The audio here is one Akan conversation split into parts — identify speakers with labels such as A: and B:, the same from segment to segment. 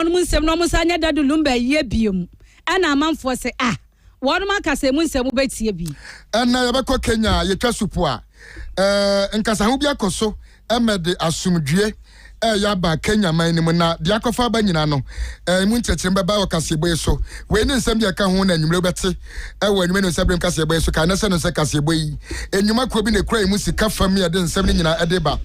A: wɔnom nsɛm na wɔnsan nyɛ Dadou Lumba ayie biom, ɛna amanfoɔ se ah, wɔnom aka sɛ emu nsɛm wobɛtie bi. Ɛnnɛ yɛbɛkɔ
B: Kenya a yɛtwa supo a, eh, nkasaho bi akɔ so mɛde asomdwie ɛyɛ aba Kenya man no mu na deɛ akɔfa aba nyina no eh, mu nkyerɛkyerɛ bɛba wɔ kaseɛbɔ yi so. Wei ne nsɛm deɛ ɛka ho na anwummerɛ wobɛte ɛwɔ anwummerɛ no nsɛberem kaseɛbɔ yi so. Kae nɛsɛ no sɛ kaseɛbɔ yi nnwuma kuo bi na ɛkura emu sika fam yɛde nsɛm no nyina ɛde ba.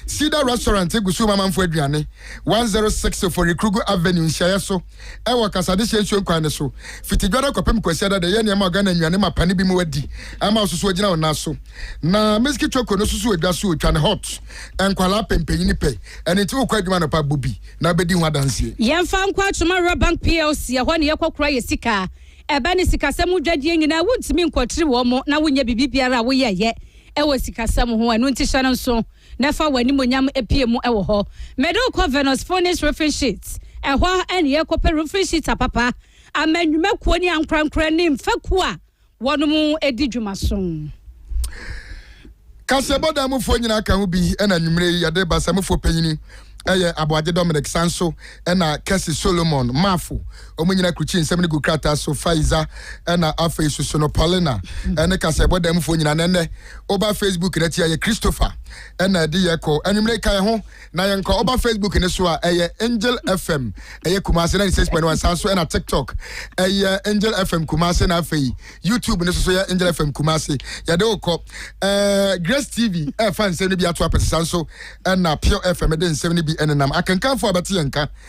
B: Cedar Restaurant gu so ma amanfoɔ aduane. one zero six Oforikrugu Avenue nhyiaɛ so wɔ Kasadehyeɛ nsuo nkwan no so fiti Dwada kɔpem Kwasiada de yɛ nneɛma a Ghana nnuane ma pane binom adi ama ɔsoso agyina wɔn nan so na Miski Choco no susu wɔ dwa so otwa no hot nkwadaa pɛ mpanyini pɛ ɛno nti wokɔ adwuma anɔpa bɔ bi na wobɛdi ho adanseɛ. Yɛmfa nkɔ Atwoma
A: Rural Bank plc ɛhɔ na yɛkɔ kora yɛ sika ɛba ne sikasɛm ho dwadie nyinaa wontumi nkɔtiri wɔn na wonyɛ biribi biara a woyɛɛyɛ ɛwɔ sikasɛm ho ɛno nti hyɛ no nso. na fa w'animuonyam pue mu wɔ hɔ. Mede wo kɔ Venus Phoenix Roofing Sheets, ɛhɔ ne yɛrekɔpɛ roofing sheets apapa ama nnwumakuo ne ankorankoro ne mfɛkuo a wɔdi dwuma so.
B: Kaseɛbɔ dan mufoɔ nyinaa ka ho bi na anwummerɛ yi yɛde reba. Samufoɔ panyini yɛ Aboagye Dominic, san so na Kessy Solomon Mafo. Wɔn nyinaa krukyii nsɛm no guu krataa so, Faiza, ɛna afei Susu no, Paulina, ɛne kasaɛbɔ dan mufoɔ nyinaa, na ɛnnɛ, woba Facebook no akyi a, ɛyɛ Christopher ɛna ɛde yɛ kɔ. Anwummerɛ yi, ka yɛn ho na yɛnkɔ. Woba Facebook no so a, ɛyɛ Angel FM, ɛyɛ Kumasi 96.1, saa nso ɛna TikTok, ɛyɛ Angel FM Kumasi, na afei YouTube no so so yɛ Angel FM Kumasi. Yɛde wo kɔ. Ɛɛ, Grace TV ɛfa nsɛm no bi ato apɛsɛ, saa nso ɛna Pure FM de nsɛm no bi ɛnenam. Akenkanfoɔ a bɛte yɛn nka.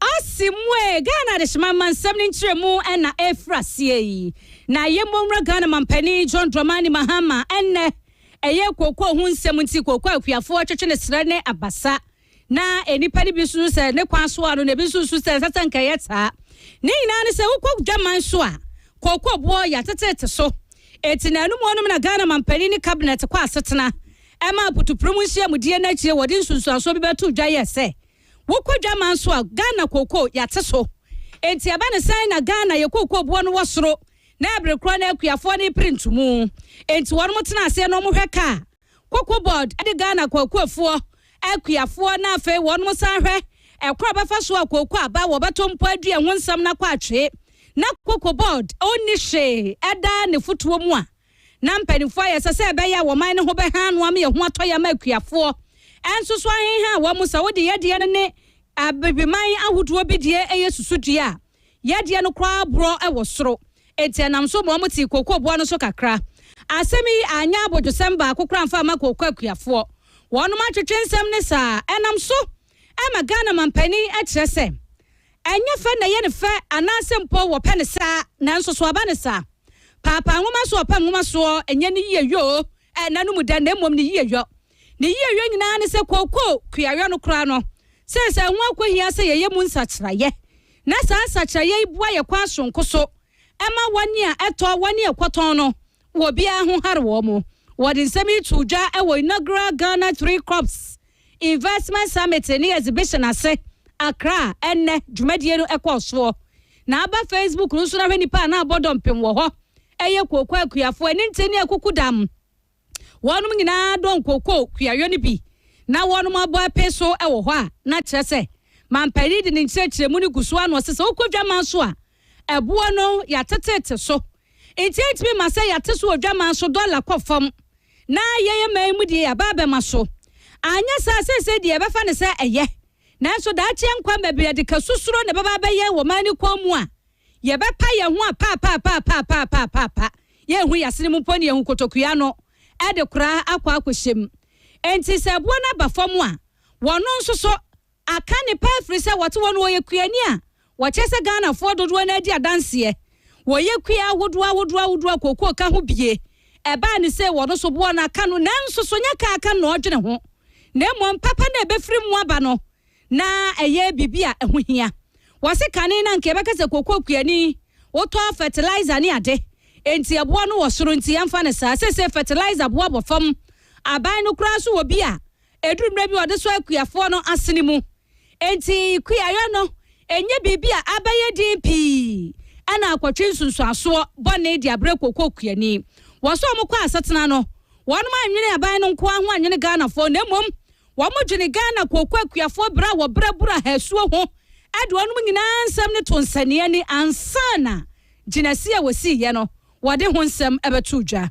A: Asimwe, Ghana adehyema amansɛm no nkyerɛmu na ɛrefiri aseɛ yi. Na yɛn mmɔwura Ghana mampanin John Dramani Mahama ɛnnɛ ɛyɛ kookoo ho nsɛm nti kookoo a akuafoɔ twetwe ne serɛ ne abasa. Na nnipa no bi susu sɛ ne kwan soa no na ebi nso susu sɛ ɛnsɛ sɛ anka ɛyɛ saa. Ne nyinaa ne sɛ wokɔ dwaman so a kookoo boɔ yɛatetete so. Eti na anum anum na Ghana mampanin ne cabinet kɔ asetena ɛma aputupurum nhyiamudie no akyire wɔde nsunsuansoɔ bi bɛtoo dwa yɛɛ sɛ Wokɔ dwaman nso a, Ghana kookoo, yɛate so. Enti ɛba no sɛn na Ghana yɛ kookoo boɔ no wɔ soro na ɛbere korɔ no akuafoɔ no repere ntumu? Enti wɔnom tena aseɛ na wɔhwɛ ka a, Koko Board de Ghana kookoofoɔ, akuafoɔ, na afei wɔnom san hwɛ ɛkwan a wɔbɛfa so a kookoo aba wɔbɛto mpo adua ho nsɛm no akɔ atwee na Koko Board ɔnni hwee da ne fotuo mu a na mpanyimfo ayɛ sɛ sɛ ɛbɛyɛ a wɔman no ho bɛha ano ama ehu atɔ yɛ ama akuafoɔ nso so ahenha wɔn sɛ wode yɛdeɛ no ne abebeman ahodoɔ bi deɛ yɛ susudua a yɛdeɛ no koraa borɔ wɔ soro enti ɛnam so ma wɔtee kookooboa no so kakra asɛm yi anyɛ abodwosɛm baako koraa mfa mma kooko akuafoɔ wɔnom atwetwe nsɛm ne saa ɛnam so Ɛma Ghana manpanin kyerɛ sɛ ɛnyɛ fɛ na ɛyɛ no fɛ anaasɛ mpo wɔpɛ no saa nanso so aba no saa? Paapaa nwoma so ɔpɛ nwoma soɔ nyɛ ne yie yɔ o ɛnna no mu dɛ na mmom ne yie yɔ. Ne yie yɔ nyinaa ne sɛ kooko kuayɔ no koraa no seesei ɛho akɔhia sɛ yɛyɛ mu nsakyeraeɛ na saa nsakyeraeɛ yi boa yɛn kwan soronko so ma wɔn a ɛtɔ wɔn ne ɛkɔtɔn no Wɔ biara ho hare wɔn. Wɔde nsɛm yi too dwa wɔ inaugural Ghana Three Crops Investment Summit ne Exhibition ase, Accra, ɛnnɛ. Dwumadie no kɔɔ soɔ. Na aba Facebook no nso na hwɛ nnipa a na abɔ dɔmpem wɔ hɔ. Ɛyɛ kooko akuafoɔ, aninte ne akukudam. Wɔnom nyinaa dɔ nkooko kuayɔ no bi na wɔnom abɔ apee so wɔ hɔ a na kyerɛ sɛ manpanin de ne nkyerɛkyerɛmu no gu so ara na ɔse sɛ wokɔ dwaman so a Ɛboɔ no yɛatetete so nti ɛntumi ma sɛ yɛate so wɔ dwaman so dɔla kɔ fam na yɛyɛ man yi mu deɛ yɛaba abɛma so. Anyɛ saa seesei deɛ yɛbɛfa no sɛ ɛyɛ nanso daakye ɛnkwa mma bi ɛde ka susuro na ɛbɛba abɛ yɛn wɔ man no kɔn mu a yɛbɛpa yɛn ho apaapaapaapaapaapaapa yɛnhu yɛn asene mu mpo na yɛhu kotokua no ɛde kora akɔ akɔhyɛ mu. Nti sɛ ɛboɔ no aba fam a wɔno nso so aka ne pɛ afiri sɛ wɔte hɔ no wɔyɛ kuani a wɔkyerɛ sɛ Ghanafoɔ dodoɔ no ara di adanseɛ, wɔyɛ kua ahodoɔ ahodoɔ ahodoɔ a kookoo ka ho bie, ɛbaa ne sei wɔn so boɔ no aka no nanso so nyɛ ka aka no na ɔredwene ho na mmom papa no a ɛbɛfiri mu aba no na ɛyɛ biribi a ɛho hia. Wɔse kane no anka yɛbɛka sɛ kookoo kuani wotɔ fertilizer ne ade enti ɛboɔ no wɔ soro nti yɛmfa no saa, seesei fertilizer boɔ bɔ fam, aban no koraa nso wɔ bi a Ɛduru mmerɛ bi a ɔde sɔ akuafoɔ no asene mu. Enti kuayɔ no nyɛ biribi a abɛyɛ den pii na akɔtwe nsunsuansoɔ bɔne de abrɛ kookoo kuani. Wɔsɔ wɔn kɔ asetena no, wɔnom annwene aban no nko ara ho annwene Ghanafoɔ na mmom wɔdwene Ghana kookoo akuafoɔ berɛ a wɔbrɛ Burahah asuo ho de wɔnom nyinaa nsɛm no to nsɛnneɛ ni ansa na gyinasie a wɔsiiɛ no wɔde ho nsɛm bɛto dwa.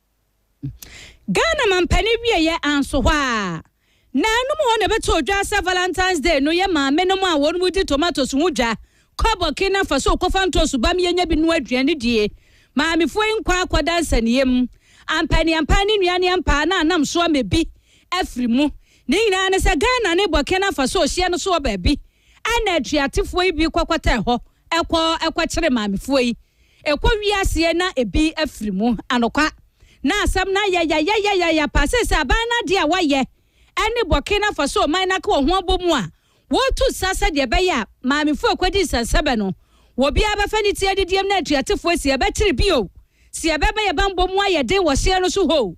A: Ghana mampanin wieɛ anso hɔ a, na ɛnom hɔ na ɛbɛtɔ dwa sɛ Valentine's Day no yɛ maame nom a wɔn mu di tomatoes ho dwa, kɔ Burkina Faso kɔfa ntoosu ba mmienya bi noa aduane die. Maamefoɔ yi nkɔ akɔda nsania mu, ampaniampan ne nnuaneampaa na anam so ama bi afiri mu. Ne nyinaa ne sɛ Ghana ne Burkina Faso hyia no so wɔ baabi. Ɛna atuatefoɔ yi bi kɔkɔtɛɛ hɔ kɔ kɔkyere maamefoɔ yi. Ɛkɔ wie aseɛ na ɛbi afiri mu. Anokwa. Na asɛm no ayɛ yayayayaya paa. Seesei aban no adeɛ a wɔayɛ ne bɔke no afa so ɔman no aka wɔn ho abɔ mu a wɔretu sa sɛdeɛ ɛbɛyɛ a maamefoɔ a ɛkɔdi nsɛnsɛbɛ no wɔ biara bɛfa ne ti adidie mu na atuatefoɔ asi yɛbɛkyere bio si yɛbɛma yɛn bammɔ mu ayɛ den wɔ hyeɛ no so hoo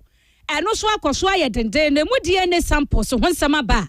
A: ɛno nso akɔ so ayɛ denden na ɛmu DNA samples ho nsɛm aba a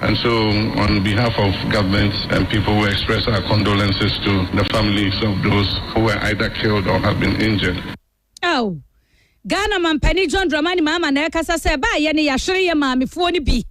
C: And so on behalf of government and people we express our condolences to the families of those who were either killed or have been injured. Ao!
A: Ghana Mampanin John Dramani Mahama na ɛrekasa sɛ ɛbaa yɛ ne yɛahwere yɛ maamefoɔ no bi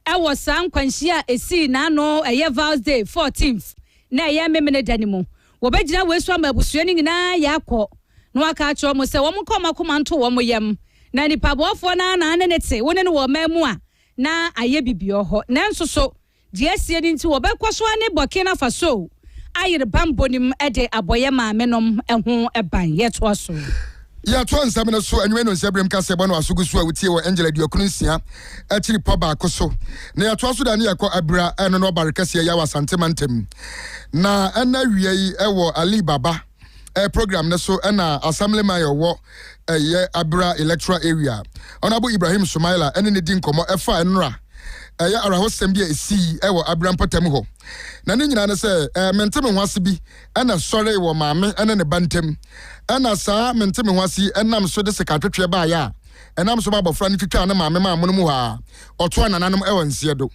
A: wɔ saa nkwanhyia a ɛsii n'ano ɛyɛ Val's Day 14th na ɛyɛ Memeneda no mu. Wɔbɛgyina wei so ama abusua no nyinaa yɛ akɔ na wɔaka akyerɛ wɔn sɛ wɔn nka wɔn akoma nto wɔn yam na nipa boafoɔ no ara na ne ne te wo ne no wɔ ɔman mu a na ayɛ bibiɔ hɔ nanso so deɛ asie no nti wɔbɛkɔ so ane Burkina Faso ayere banbɔ no mu de abɔ yɛ maame nom ho ban. Yɛtoa so. Yɛtoa
B: nsɛm no so anwummerɛ no nhyɛberem ka sɛ bɔ no asogu so a wotie wɔ Angel aduokron nsia akyiri pɔ baako so na yɛtoa so da ne yɛkɔ Abira ɛno no ɔbare kɛseɛ yɛ wɔ Asante mantam na ɛna awia yi wɔ Ali Baba eh, program no so na Assemblyman a ɔwɔ ɛyɛ Abira Electoral Area, Honourable Ibrahim Sumaila ne no di nkɔmmɔ ɛfa nnora ɛyɛ awerɛhosɛm bi a ɛsii wɔ Abira mpɔtam hɔ. Na ne nyinaa ne sɛ eh, mente me ho ase bi na ɛsɔree wɔ maame ne ne ba ntam. Ɛna saa mente me ho ase yi nam so de sekatwetweɛ baeɛ a ɛnam so ma abɔfra no twitwaa ne maame maa mono mu hɔ a ɔtoa nananom wɔ nseɛ do.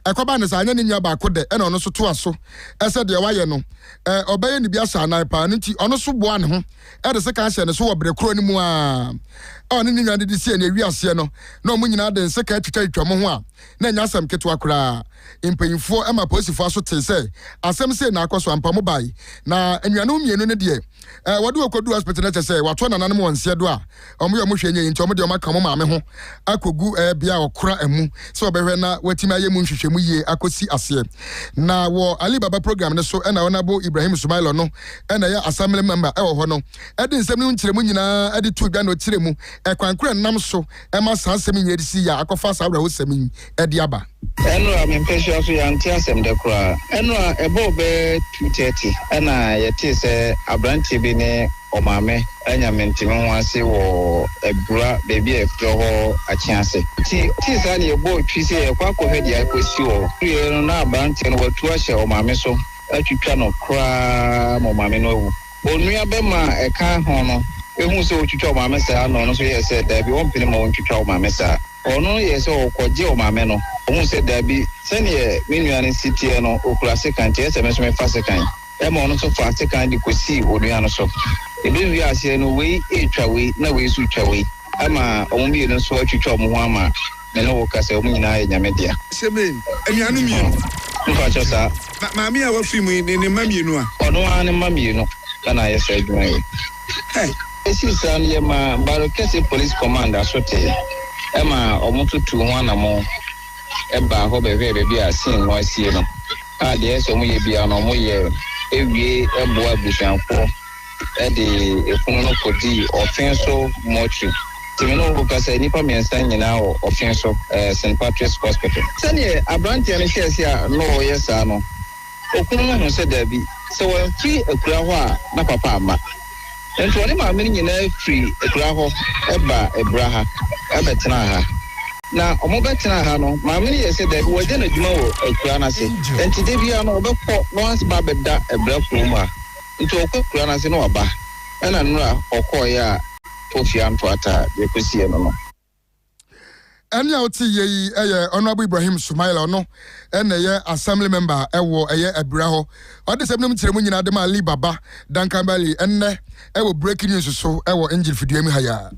B: Ɛkɔbaa no saa, anyɛ ne nua baako dɛ, ɛna ɔno nso toa so sɛ deɛ wayɛ no, ɔbɛyɛ ne bi ahyɛ anan paa. Ɛno nti, ɔno nso boaa ne ho de sekan hyɛɛ ne so wɔ berɛ korɔ no mu ara a ɔne ne nua no de sii ani. Ɛwii aseɛ no, na wɔn nyinaa de nsekan twitwatwitwa wɔn ho a na ɛnyɛ asɛm ketewa koraa. Mpanimfoɔ ma apolisifoɔ aso tee sɛ asɛm sei na akɔ so. Ampa wɔn bae, na anuanom mmienu no deɛ, wɔde wɔn kɔduu hospital no, kyerɛ sɛ wɔato nananom wɔn nseɛ do a Wɔn yɛ wɔn hwɛ nyɛ yi nti wɔn deɛ wɔn aka wɔn maame ho akɔ gu ɛɛ bea a ɔkora ɛmu sɛ ɔbɛhwɛ na watumi ayɛ mu nhwehwɛmu yie akɔ si aseɛ. Na wɔ Ali Baba program no so ɛna Honourable Ibrahim Sumailor no ɛna ɛyɛ Assembly Member ɛwɔ hɔ no ɛde nsɛm no mu nkyerɛmu nyinaa ɛde too dwa na ɔkyerɛ mu ɛkwan korɔ ɛnam so ɛma saa asɛm yi nyinaa ɛde sii a akɔfa saa awerɛhosɛm yi de aba. Ɛnora, me mpasua
D: so yɛante asɛm da koraa. Ɛnora, ɛbɔɔ bɛyɛ two thirty na yɛtee sɛ aberanteɛ bi ne ɔmaame anya menteme ho ase wɔ abura baabi a yɛfrɛ hɔ Akyease. Nti yɛtee saa na yɛbɔɔ twi sɛ yɛrekɔ akɔhwɛ deɛ akɔsi hɔ. Yɛduruiɛ no na aberanteɛ no watu ahyɛ ɔmaame so atwitwa no koraa ma ɔmaame no awu. Onua bɛma a ɛka ho no huu sɛ ɔretwitwa ɔmaame saa na ɔno nso yɛɛ sɛ daabi ɔmpene ma wɔntwitwa ɔmaame saa. Ɔno yɛɛ sɛ ɔrekɔgye ɔmaame no, ɔhuu sɛ dabi, sɛdeɛ me nua no si teɛ no, ɔkura sekan, nti ɛyɛ sɛ me nso mefa sekan. Ɛnna ɔno nso faa sekan de kɔsii onua no so. Ɛbɛwiee aseɛ no, wei retwa wei, na wei nso retwa wei, ama wɔn mmienu nso atwitwa wɔn ho ama me ne wo ka sɛ wɔn nyinaa yɛ Nyame dea. Hyɛmeen, anuanom
E: mmienu. Mepakyɛw, saa.
D: Na maame a wafiri
E: mu yi ne ne mma mmienu a? Ɔno ara ne mma mmienu
D: na na ayɛ saa adwuma yi. Esii saa no, yɛmaa Bare Kɛse Police Command asote ma wɔn nso tuu ho anammɔn baa hɔ bɛhwɛɛ baabi a scene no asie no, a deɛ ɛsɛ sɛ wɔyɛ biara no wɔyɛɛ wie boaa abusuafoɔ de efunu no kɔdii Offinso Mortuary. Timi ne wo ho kasa, nnipa mmiɛnsa nyinaa wɔ Offinso St Patrick's Hospital. Sɛdeɛ aberanteɛ no hyɛɛ aseɛ a na ɔreyɛ saa no, Okunu no hu sɛ dabi, sɛ wamfiri akuraa hɔ a, na papa amma. Enti ɔne maame no nyinaa firii akuraa hɔ baa abura ha bɛtenaa ha. Na wɔbɛtenaa ha no, maame no yɛɛ sɛ dabi, wɔagya no adwuma wɔ akuraa no ase. Enti da biara no, ɔbɛkɔ na wasan ba abɛda abura kurom ha. Enti ɔkɔ akuraa no ase na waba. Ɛna nnora ɔkɔeɛ a Kofi antoa taa deɛ kɔsiiɛ no no.
B: Ɛne a wote yɛ yi yɛ Honorable Ibrahim Sumaila, ɔno na ɛyɛ Assembly Member ɛwɔ ɛyɛ Abira hɔ. Ɔde sɛm nom kyerɛ mu nyinaa de ma Ali Baba Dankanbali ɛnnɛ ɛwɔ Breaking News so ɛwɔ Engine Fidua mu ha yi ara.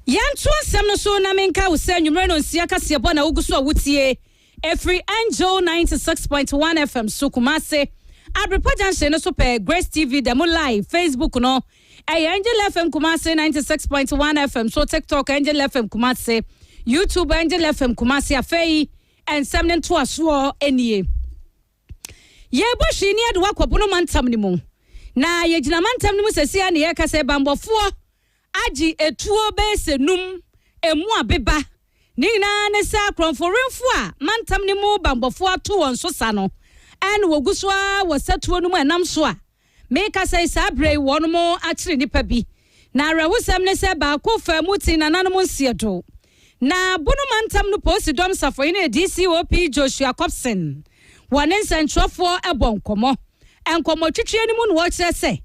A: Yɛnto nsɛm no so na menkae wo sɛ anwumerɛ no nsia kaseɛbɔ na wogu so a wotie. Ɛfiri Angel ninety six point one FM so Kumasi, Abrepɔ junction no so pɛ, Grace TV da mu live, Facebook no ɛyɛ Angel FM Kumasi ninety six point one FM so, TikTok Angel FM Kumasi, YouTube Angel FM Kumasi. Afei nsɛm no ntoasoɔ nie. Yɛrebɔ hwee ne adewa kɔ Bono mantam no mu. Na yɛgyina mantam no mu sɛsi ara na yɛreka sɛ banbɔfoɔ agye atuo bɛyɛ sɛ num, ɛmu abeba. Ne nyinaa ne sɛ akorɔmforenfo a mantam no mu banbɔfoɔ ato wɔn so sa no, ɛna wɔgu so ara wɔ satuo no mu ɛnam so a Merekasa yi, saa berɛ yi wɔnom akyere nnipa bi, na awerɛhosɛm ne sɛ baako faa mu tee nananom nseɛdo. Na Bono mantam no polisi dɔm safohene DCOP Joshua Copson wɔ ne nsɛntwerɛfoɔ bɔ nkɔmmɔ nkɔmmɔtwitweɛ no mu na ɔkyerɛ sɛ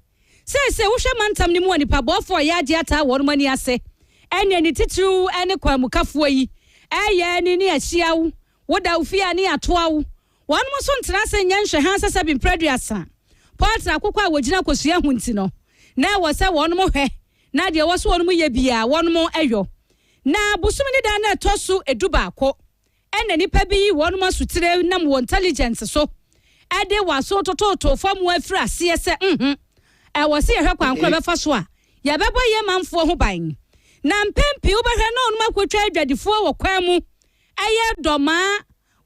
A: seesei wohwɛ mantam no mu a nnipa bɔɔfoɔ a ɔyɛ adeɛ ataa wɔnom ani ase ɛneɛ ne titiriw ne kwanmukafoɔ yi ɛyɛ ne ne ahyia wo, woda wo fie a ne yɛatoa wo. Wɔnom nso ntena ase nyɛ nhwɛha sɛ sɛbi mprɛ aduasa pɔltra akokɔ a wɔgyina kosua ho nti no, na ɛwɔ sɛ wɔnom hwɛ na deɛ ɛwɔ sɛ wɔnom yɛ biaa wɔnom yɔ. Na bosome ne da no ɛtɔ so du baako ɛna nipa bi yi wɔnom asutire nam wɔ intelligence so ɛde waso totootoo fam wɔ afiri aseɛ sɛ mh ɛwɔ sɛ yɛhwɛ kwan korɔ bɛfa so a yɛbɛbɔ yɛ manfoɔ ho ban. Na mpɛn pii wobɛhwɛ na wɔnom akotwa adwadifoɔ wɔ kwan mu ɛyɛ dɔmaa.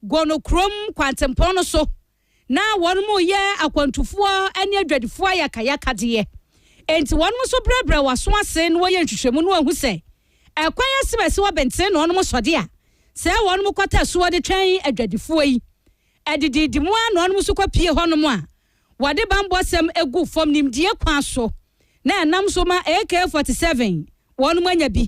A: Gono kurom kwantempɔn no so na wɔnom reyɛ akwantufoɔ ne adwadifoɔ ayakayakadeɛ. Enti wɔnom nso brɛbrɛ wɔn aso ase na wɔyɛ nhwehwɛmu na wɔahu sɛ ɛkwan asɛm a ɛsi hɔ benten na wɔnom sɔde a sɛ wɔnom kɔtɛ so wɔde twɛn adwadifoɔ yi. Adidiidi mu ara na wɔnom nso kɔpie hɔnom a wɔde bammɔsɛm gu fam nimdeɛ kwan so na ɛnam so ma AK-47 wɔnom anya bi.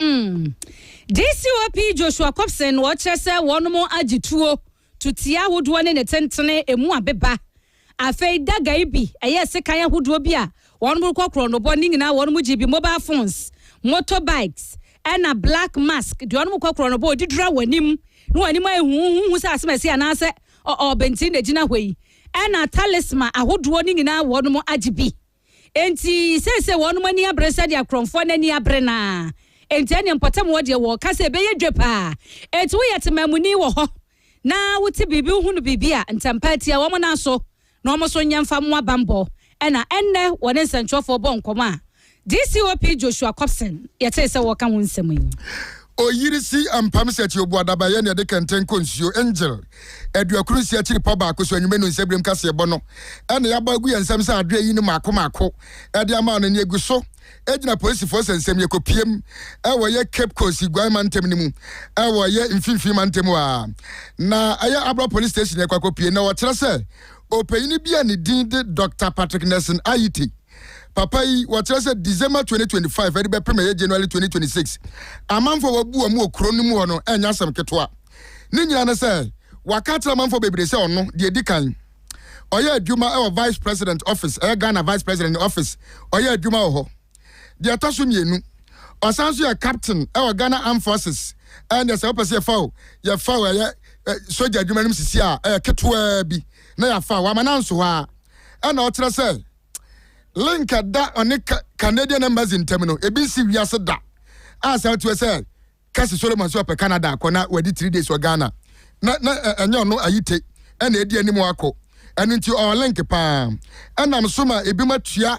F: Mm.
A: DCOP Joshua Copson na ɔkyerɛ sɛ wɔnom agye tuo, tuteɛ ahodoɔ ne ne tentene emu abeba. Afei daga yi bi ɛyɛ sekan ahodoɔ bi a wɔnom rekɔ korɔnobɔ, ne nyinaa wɔnom gye bi mobile phones, motor bikes, ɛna black mask deɛ wɔnom kɔ korɔnobɔ ɔde dura w'anim na w'anim ayɛ huhuhu sɛ asɛm asi anaasɛ ɔɔ bɛnti na ɛgyina hɔ yi, ɛna talisma ahodoɔ ne nyinaa wɔnom agye bi. Enti seesei wɔnom ani abere sɛdeɛ akorɔmfoɔ no ani abere no ara. Enti ɛnneɛ mpɔtam hɔ deɛ wɔreka sɛ ɛbɛyɛ dwa pa ara. Enti woyɛ temammuni wɔ hɔ na wote biribi, wohunu biribi a, ntɛm pa ara tia wɔn nan so na wɔn nso nyɛ mfa mmoa bammɔ. Ɛnna ɛnnɛ wɔne nsɛntwerɛfoɔ bɔɔ nkɔmmɔ a DCOP Joshua Copson yɛtee sɛ wɔreka ho nsɛm yi. Oyiri
B: si ampam sɛ ɛte obu adabaeɛ na ɛde kɛntɛn kɔ nsuo. Angel, aduakron nsia akyiri pɔ baako so anwumɛ no nsɛbirem kaseɛbɔ no na yɛabɔ agu yɛn nsam sɛ adwene yi no maako maako de ama no na egu so gyina polisifoɔ sɛ nsɛm yɛ kɔpiem wɔ yɛ Cape Coast Iguan mantam no mu wɔ yɛ mfimfini mantam a na ɛyɛ Abra Police Station yɛkɔ akɔpie na wɔkyerɛ sɛ ɔpanyini bi a ne din de Doctor Patrick Nelson Ayiti Papa yi wɔkyerɛ sɛ December twenty twenty five ɛde bɛpem ɛyɛ January twenty twenty six amanfoɔ wabu wɔn wɔ kuro no mu hɔ no ɛnyɛ asɛm ketewa ne nyinaa ne sɛ waka akyerɛ amanfoɔ bebree sɛ ɔno deɛ edi kan ɔyɛ adwuma ɛwɔ vice president office ɛyɛ Ghana vice president ne office ɔyɛ adwuma wɔ hɔ deɛ ɛtɔ so mmienu ɔsan so yɛ captain ɛwɔ Ghana armed forces ɛnna sɛ wopɛ sɛ yɛfa o yɛfa o ɛyɛ sogya adwuma no mu sisi a ɛyɛ ketewaa bi na yɛafa wama no anso hɔ a na ɔkyerɛ sɛ link a ɛda ɔne Canadian embassy ntam no ebi nsi wiase da a saa tuo sɛ Kasi Solomon sɛ ɔpɛ Canada akɔ na wadi three days wɔ Ghana na na ɛnyɛ ɔno ayite ɛna edi anim akɔ ɛno nti ɔwɔ link paa ɛnam so ma ebi ma tua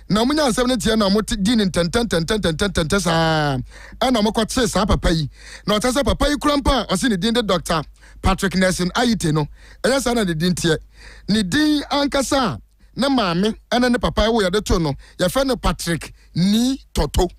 B: Na wɔnyaa nsɛm no nteɛ na wɔdii no ntɛntɛntɛntɛntɛntɛntɛntɛntɛ saa ara na wɔkɔkyee saa papa yi. Na ɔkyerɛ sɛ papa yi kura mpa a ɔse ne din de Dɔkta Patrick Nelson Ayite no, ɛyɛ saa na ne din teɛ. Ne din ankasa a ne maame ne ne papa woeɛ de too no, yɛfrɛ no Patrick Nii Tɔto.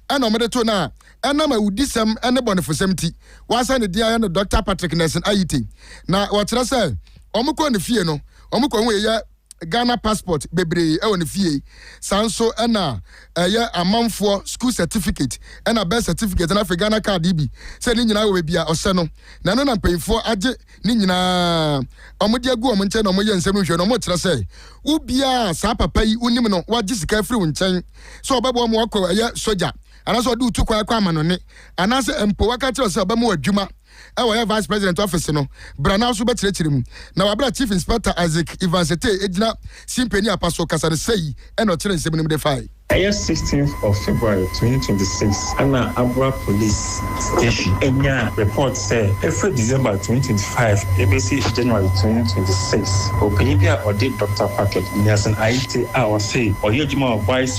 B: Ɛna wɔde too no a ɛnam awudisɛm ne bɔnefosɛm nti, wɔasan ne din ayɛ no Dɔkta Patrick Nelson Ayite. Na wɔkyerɛ sɛ wɔkɔɔ ne fie no, wɔkɔhuu yɛ Ghana passport bebree wɔ ne fie. Saa nso na ɛyɛ amanfoɔ school certificate ɛna birth certificate na afei Ghana card yi bi. Sɛ ne nyinaa wɔ baabi a ɔhyɛ no. Na ɛno na mpanyinfoɔ agye ne nyinaa wɔn de agu wɔn nkyɛn na wɔn yɛ nsɛm no nhwɛ no wɔn kyerɛ sɛ wo biaa a saa papa yi wo nim no wagye sika afiri wo nkyɛn sɛ ɔbɛboa ma wakɔ ɛyɛ sogya anaasɛ ɔde wo tu kwan akɔ amanɔne anaasɛ mpo waka akyerɛ wo sɛ ɔbɛma wo adwuma a ɔyɛ Vice President Office no bra na ɔso bɛkyerɛkyerɛ mu. Na wabra Chief Inspector Isaac Ivansete gyina si mpanin apa so kasa no sei na ɔkyerɛ nsɛm no mu de fae. Ɛyɛ sixteenth of
G: February twenty twenty six ɛna Abura Police Station ɛnyaa report sɛ ɛfiri December twenty twenty five ɛbɛsi January twenty twenty six, ɔpanyin bi a ɔde Doctor Patrick Nelson Ayite a ɔse ɔyɛ adwuma wɔ Vice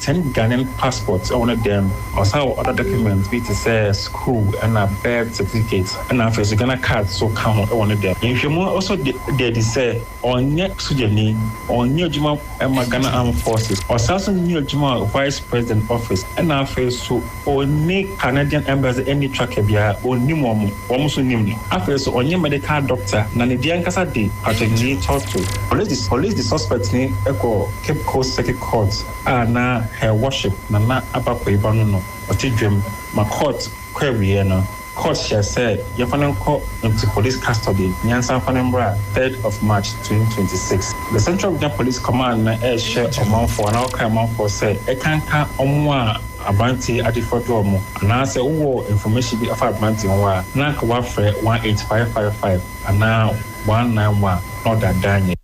G: Ten Ghanaian passports wɔ ne dan mu. Ɔsan wɔ other documents bi te sɛ sukuu na birth certificate na afei nso Ghana card nso ka ho wɔ ne dan mu. Nhwehwɛmu no nso da adi sɛ ɔnyɛ sogyani, ɔnyɛ adwuma mma Ghana Armed Forces, ɔsan nso nyɛ adwuma wɔ Vice President Office na afei nso, Onni Canadian Embassy enni tracker biara, onnim wɔn, wɔn nso nnim no. Afei nso, ɔnyɛ medical doctor, na ne din ankasa de Patrick-Lee Torto. Police de suspectni kɔɔ Cape Coast Circuit Court a na Her Worship Nana Abakoiba no no ɔte dwam ma court kɔ awieɛ no. Court hyɛɛ sɛ yɛmfa no nkɔ into police custody nyansa mfa no mmra third of March twenty twenty six. The Central Regional Police Command no ɛrehyɛ ɔmanfoɔ anaa ɔkra manfoɔ sɛ ɛkanka wɔn a aberanteɛ adefoɔ de wɔn anaa sɛ wowɔ information bi afa aberanteɛ ho a na anka woafrɛ one eight five five five anaa one nine one na ɔdaadaa nyɛ.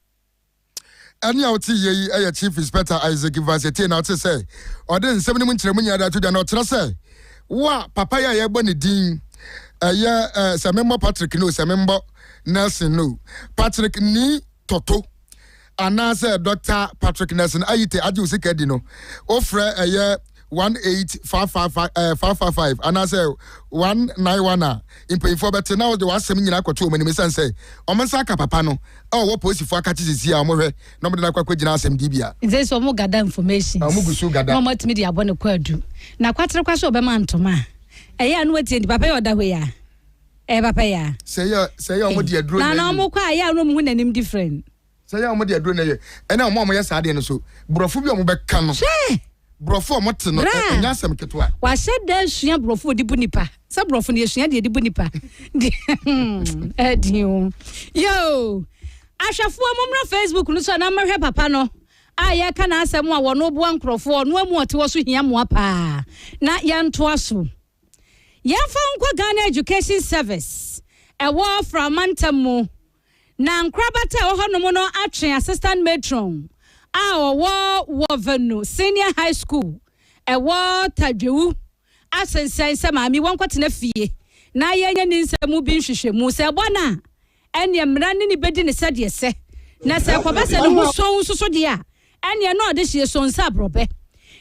B: Ɛnne a wote yɛ yi yɛ Chief Inspector Isaac Ivansetie na wote sɛ ɔde nsɛm no mu nkyerɛmu nyinaa de ato dwa na ɔkyerɛ sɛ wo a papa yi a yɛbɔ ne din ɛyɛ ɛɛ sɛ memmɔ Patrick no sɛ memmɔ Nelson no Patrick ni toto anaasɛ Dr. Patrick Nelson Ayite agye wo sika di no wofrɛ ɛyɛ one eight five five five ɛɛ eh, five five five anaasɛ one nine one a mpanyinfoɔ bɛte na wɔde w'asɛm nyinaa akɔto wɔn anim esan sɛ wɔn nsa aka papa no a ɔwɔ polisifoɔ akakye sisi a wɔn hwɛ na wɔde no akɔ akɔ gyina asɛm di bi a. nti sɛ wɔn gada
A: information na wɔn gu so gada na wɔn
B: atumi de abɔ ne kɔ
A: adu na kwatere kwa so ɔbɛma ntoma a ɛyɛ ano atie nti papa yɛ ɔda hɔ yi a ɛyɛ papa yi a. sɛ yɛ sɛ yɛ wɔn
B: de aduro na na wɔn kɔ a yɛ ano
A: mu ho n'anim different. Sɛ yɛ a wɔde aduro
B: na ɛyɛ ɛna wɔn a wɔyɛ saa adeɛ no so borɔfo bi a wɔbɛka no. Hwɛ! Borɔfo a wɔte no Bra! ɛnyɛ asɛm ketewa. Wahyɛ da asua
A: borɔfo a ɔde bu nipa. Sɛ borɔfo no yɛsua deɛ ɛde bu nipa deɛ hmm, ɛden o. Yoo! Ahwɛfoɔ mommra Facebook no so anaa mmɛhwɛ papa no a yɛka n'asɛm a wɔn boa nkurɔfoɔ ɔno amu ɔte hɔ so hia mmoa paa na yɛntoa so. Yɛmfa nkɔ Ghana Education Service ɛwɔ Framantam mu. Na nkorabata a ɛwɔ hɔnom no atwe assistant matron a ɔwɔ Wɔvanu Senior High School, ɛwɔ Tadwewu, asensɛn sɛ maame yi wɔnkɔtena fie na yɛnyɛ ne nsɛm mu bi nhwehwɛmu. Sɛ ɛbɔ no a, ɛnneɛ mmara ne no bɛdi no sɛdeɛ ɛsɛ. Na sɛ ɛkɔba sɛ ne ho sõ nso so deɛ a, ɛnneɛ na ɔde hyeɛ sõ sɛ aborɔbɛ.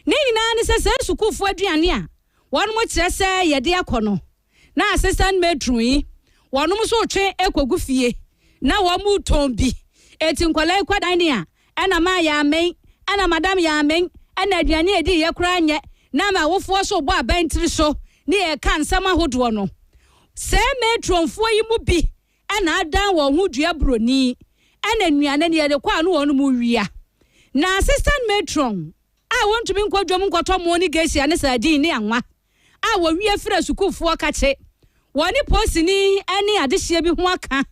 A: Ne nyinaa ne sɛ, saa sukuufoɔ aduane a wɔkyerɛ sɛ yɛde akɔ no, na assistant matron yi wɔnom nso retwe kɔgu fie na wɔretɔn bi. Enti nkwadaa yi kɔ dining a, ɛna maa yɛammɛn, ɛna madam yɛammɛn, ɛna aduane a ɛdiiɛ koraa nyɛ, na ama awofoɔ nso rebɔ abɛn tiri so ne yɛn reka nsɛm ahodoɔ no. Saa matronfoɔ yi mu bi na adan wɔn ho dua buroni, ɛna nnuane no yɛde kɔ a na wɔnom rewia. Na assistant matron a wɔntumi nkɔ dwam nkɔtɔ moo ne gesia ne sardine ne anwa. a wɔwie frɛ sukuufoɔ kakye wɔne poosini ne adehyeɛ bi ho aka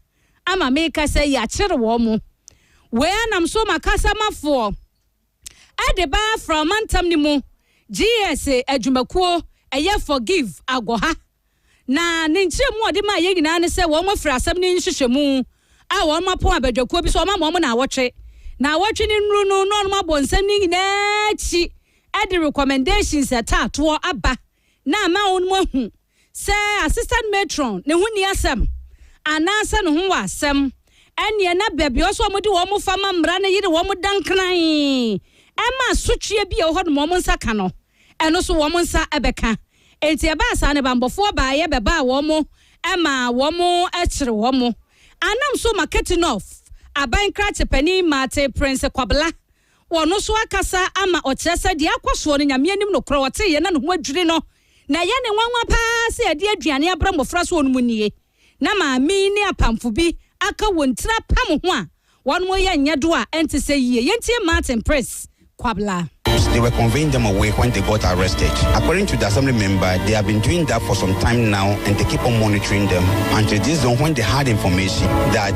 A: ama meka sɛ yɛakyere wɔn mo. Wei ara nam so ma kasamafoɔ de ba Afra mantam no mu GS adwumakuo ɛyɛ Forgive Agoha na ne nkyerɛmu a ɔde maa yɛn nyinaa ne sɛ wɔn afiri asɛm no nhwehwɛmu a wɔn apɔn abadwakuo bi so wɔama wɔn nnawɔtwe. Nnawɔtwe no nnuru no na wɔabɔ nsɛm no nyinaa akyi Ɛde recommendations a ɛtaa toɔ aba na ama wɔn ahu sɛ assistant matron ne ho nni asɛm anaasɛ ne ho wɔ asɛm, ɛnneɛ na baabi a ɛwɔ sɛ wɔde wɔn fa ma mmara no yere wɔn dankran ma asotweɛ bi a ɛwɔ hɔ nom a wɔn nsa ka no, ɛno nso wɔn nsa bɛka. Enti ɛbaa saa no, banbɔfoɔ baeɛ bɛbaa wɔn maa wɔkyere wɔn. Anam so Maketinoff aban krakye panin Martin Prince Kwabla Ɔno nso akasa ama ɔkyerɛ sɛ deɛ akɔ soɔ no, Nyame anim nokorɛ ɔteeɛ na ne ho adwiri no, na ɛyɛ ne nwanwa pa ara sɛ yɛde aduane abrɛ mmɔfra sɛ wɔnom nnie, na maame yi ne apamfo bi aka wɔn tiri apam ho a wɔreyɛ nyɛ do a ɛnte sɛ yie. Yɛntie Martin Prince Kwabla. They were conveying
H: them away when they got arrested. According to the assembly member, they have been doing that for some time now and they keep on monitoring them until this dawn when they had information that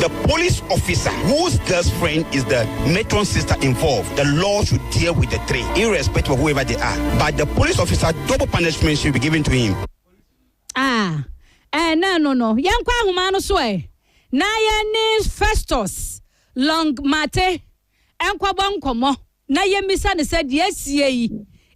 H: The police officer whose girl's friend is the matron's sister involved, the law should deal with the three, irrespective of whoever they are. But the police officer, double punishment should be given to him. Ah, eh, no,
A: no, no. Yɛnkɔ ahoma no so ɛ. Eh. Na yɛne Festus Long Mate nkɔbɔ nkɔmmɔ na yɛmmisa no sɛ deɛ asie yi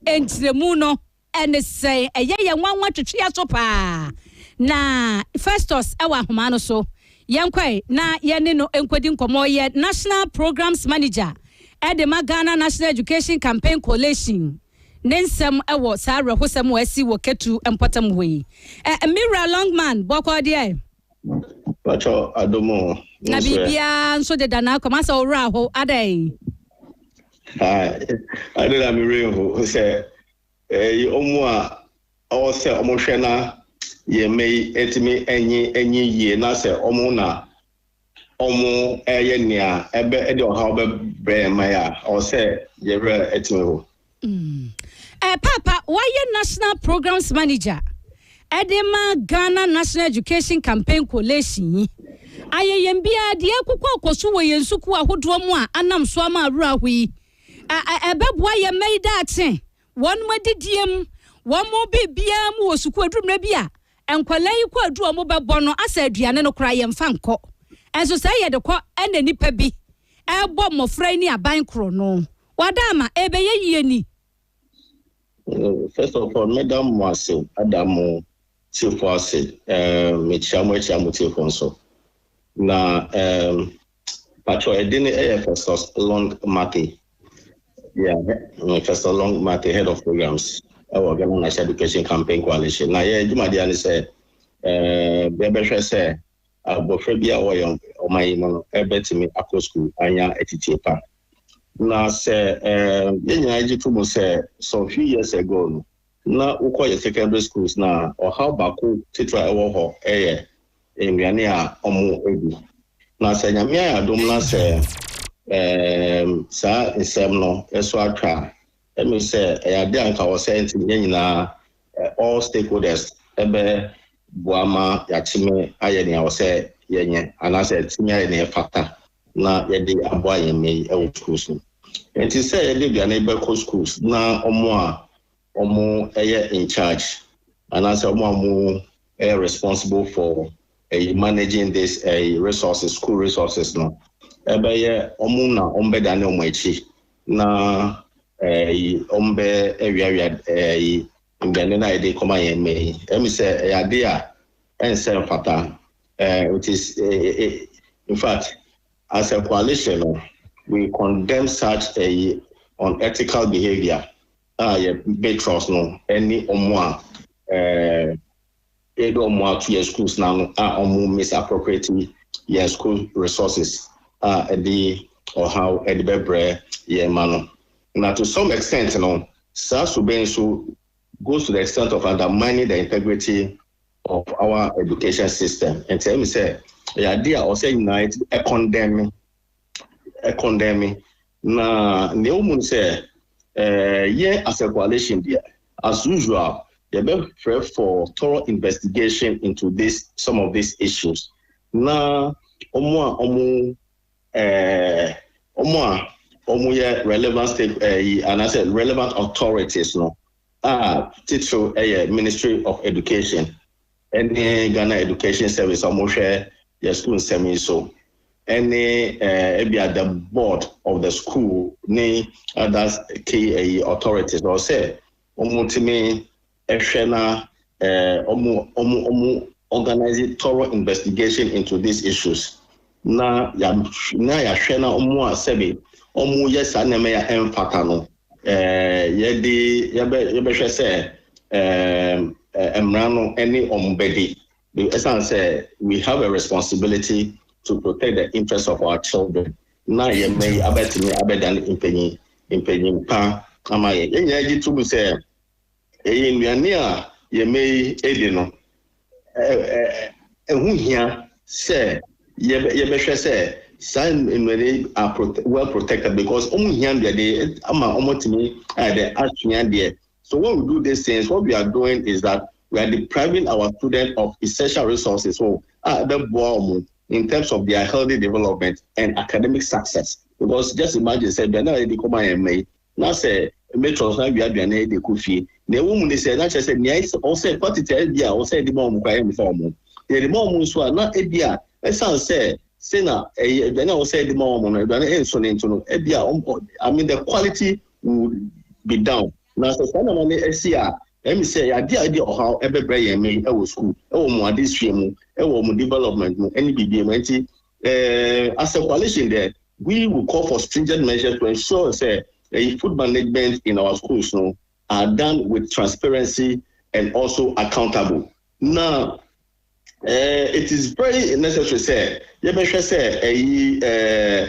A: nkyerɛmu no Ɛne sɛ ɛyɛ yɛn nwanwa twetwe yɛn so paa. Na Festus wɔ ahoma no so. Yɛnkɔ ɛ na yɛne no nkɔdi nkɔmmɔ. Ɔyɛ National Programmes Manager de ma Ghana National Education Campaign Coalition. Ne nsɛm wɔ saa awerɛhosɛm a asi wɔ Ketu mpɔtam hɔ yi. Ɛ, me wura Longman, bɔkɔɔ deɛ? Pacho
I: adom o, wo nso ɛ? Na biribiara
A: nso deda na akɔ mu asɛ wo werɛ aho adɛn?
I: Ade na me werɛ ho sɛ Eyi wɔn a ɔwɔ sɛ wɔhwɛ na yɛn mma yi atumi anyin anyin yie na sɛ wɔn na wɔreyɛ nea ɛbɛ de ɔhaw bɛbrɛ yɛn mma yi a, ɛwɔ sɛ yɛn werɛ atumi ho. Eh,
A: Paapa, wayɛ National Programs Manager de ma Ghana National Education Campaign Coalition yi. Ayɛ yɛn biara deɛ ɛrekokɔ akɔ so wɔ yɛn sukuu ahodoɔ mu a anam so ama awerɛhoɔ yi. ɛbɛboa yɛn mma yi daakye, wɔn adidie mu, wɔn biribiara mu wɔ sukuu aduru mmerɛ bi a, nkwadaa yi kɔ aduru a wɔbɛbɔ no asɛ aduane no koraa yɛmfa nkɔ. Ɛnso sɛ yɛde kɔ ɛna nnipa bi ɛrebɔ mmɔfra yi ne aban korɔ no, wada ama ɛbɛyɛ yie ni. First
I: of all, meda mo ase, ada mo tiefoɔ ase, mekyia mo akyia mo tiefoɔ nso. Na Patrɔ ɛdin no ɛyɛ Festus Long Marthe yeah mm Festus Long Marthe head of programs ɛwɔ Ghana National Education Campaign Coalition na yɛ adwumadeɛ no sɛ ɛɛ yɛbɛhwɛ sɛ abɔfra bi a ɔwɔ yɛn ɔman yi mu no ɛbɛtumi akɔ sukuu anya atitie pa na sɛ ɛɛ yɛn nyinaa gye to mu sɛ some few years ago no Ná wokɔ yɛn secondary schools na ɔhaw baako titiriw a ɛwɔ hɔ yɛ nnuane a wɔdi. Na sɛ Nyame ayɛ adom na sɛ ɛɛm saa nsɛm no so atwa a, ɛmee sɛ ɛyɛ ade a anka ɔsɛ nti yɛn nyinaa ɛ all stakeholders ɛbɛ boa ma yɛatumi ayɛ nea ɔsɛ yɛnyɛ anaasɛ atumi ayɛ nea ɛfata. na yɛde aboa yɛn mma yi wɔ sukuu so. Enti sɛ yɛde aduane bɛkɔ sukuu na wɔn a wɔyɛ in charge anaasɛ wɔn a wɔyɛ responsible for ɛyi managing this ɛyi resources school resources no ɛbɛyɛ wɔn na wɔn bɛdane wɔn akyi na ɛyi wɔn bɛ awiawia ɛyi Nnuane no a yɛde rekɔma yɛn mma yi, ɛmi sɛ ɛyɛ ade a ɛnsɛ mfata. Eh, it is, eh, eh, eh, in fact, as a coalition no, we condemn such a unethical behavior a yɛ matrons no ɛne ɔmo a, eh, Bɛyɛ dɛ ɔmo ato yɛn schools no ano a ɔmo misappropriate yɛn school resources a ɛde ɔhaw de bɛbrɛ yɛn mma no. Na to some extent no, saa su bɛn nso goes to the extent of undermining the integrity of our education system. Nti ɛyɛ me sɛ ɛyɛ ade a ɔsɛ yɛn nyinaa yɛtumi condemn ɛkɔndɛn me. Na nea ɛwɔ mu ne sɛ, eh, yɛn as a coalition deɛ, as usual, yɛbɛhwɛ for thorough investigation into this some of these issues. Na wɔn a wɔn eh, wɔn a wɔn yɛ relevant stake eh, yi anaasɛ relevant authorities no a titiriw ɛyɛ Ministry of Education. ɛne Ghana Education Service a wɔhwɛ yɛn sukuu nsɛm yi so, ɛne ebia the board of the school ne other key ɛyi authorities ɔwɔ sɛ wɔtumi ɛhwɛ na wɔn wɔn wɔn organize thorough investigation into these issues na na yɛahwɛ na wɔn a sɛbe wɔyɛ saa nneɛma yi a ɛmfata no, yɛde yɛbɛ yɛbɛhwɛ sɛ mmara no ne wɔn bɛdi. Ɛsan sɛ we have a responsibility to protect the interest of our children na yɛn mma yi abɛtumi abɛdan mpanyin mpanyin pa ama yɛn. Yɛn nyinaa gye tom sɛ Ɛyɛ nnuane a yɛn mma yi di no. Ɛho hia sɛ yɛbɛhwɛ sɛ saa nnuane yi are well protected because wɔn hia nnuane ama wɔatumi ayɛ dɛ asua deɛ. So when we do these things, what we are doing is that we are depriving our students of essential resources so a ɛbɛboa wɔn in terms of their healthy development and academic success because just imagine sɛ aduane a yɛde kɔma yɛn mma yi Na sɛ matron san wia aduane de kɔ fie, nea ɛwɔ mu ne sɛ, na kyerɛ sɛ nea ɔsɛ quantity a ebia ɔsɛ de ma wɔn koraa yɛmmfa wɔn. Nea yɛde ma wɔn nso a, na ebia esiane sɛ se na ɛyɛ aduane a ɔsɛ de ma wɔn no, aduane nso ne nti no, ebia wɔn, I mean the quality would be down. Na sɛ saa nneɛma no si a, ɛyɛ me sɛ ɛyɛ ade a ebia ɔhaw bɛbrɛ yɛn mma yi wɔ sukuu, wɔ wɔn adesua mu, wɔ wɔn development mu ne biribiara mu. Enti. As a coalition deɛ, we will call for stringent measures to ensure sɛ ɛyi food management in our schools no are done with transparency and also accountable. Na eh, it is very necessary sɛ yɛbɛhwɛ sɛ ɛyi eh,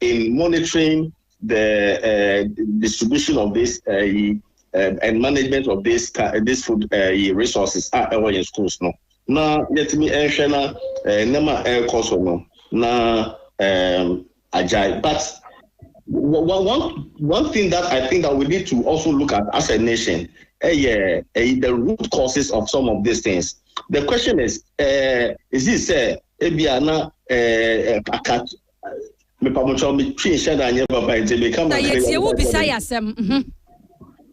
I: In monitoring the uh, distribution of this uh, uh, and management of this uh, this food uh, resources a ɛwɔ yɛn schools no na yɛtumi nhwɛ na eh, nneɛma a ɛrekɔ so no na um, agyae but one, one, one thing that I think that we need to also look at as a nation ɛyɛ eh, eh, the root causes of some of these things the question is uh, is it sɛ ebi ana uh, Mepamotwɔ me twi nhyɛ da nyɛ papa nti me ka ma kere yɛ wo bisa yɛ asɛm.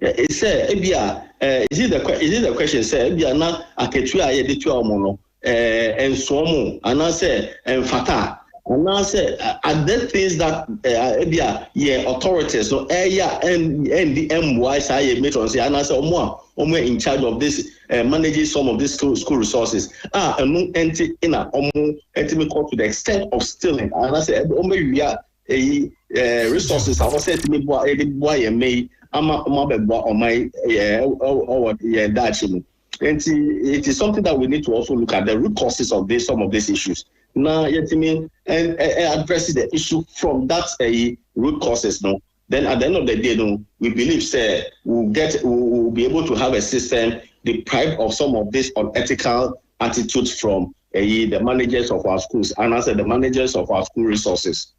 I: Sɛ ebi a is it the is it the question sɛ ebi a na akatua a yɛde tua wɔn no ɛɛ nsoɔ mo anaasɛ mfata anaasɛ are there things that ebi a yɛ authorities no ɛyɛ a ɛndi ɛmmoa saa yɛ matrons yɛ anaasɛ wɔn a wɔn yɛ in charge of this eh, manage some of these school, school resources ah ɛno ɛnti na ɔmo ɛtumi kɔ to the extent of stealing anaasɛ ah, ɔmo awia ɛyi eh, resources a wɔsɛ ɛtumi boa ɛde boa yɛn mɛ yi ama ɔmo abɛboa ɔmo yi yɛ ɛwɔ yɛn daakye mu ɛnti it is something that we need to also look at the root causes of this some of these issues na yɛtumi ɛ ɛ address the issue from that ɛyi root causes no. then at the end of the day no we believe sɛ we will get we will be able to have a system deprived of some of this unethical attitudes from ɛyi eh, the managers of our schools and as the managers of our school resources.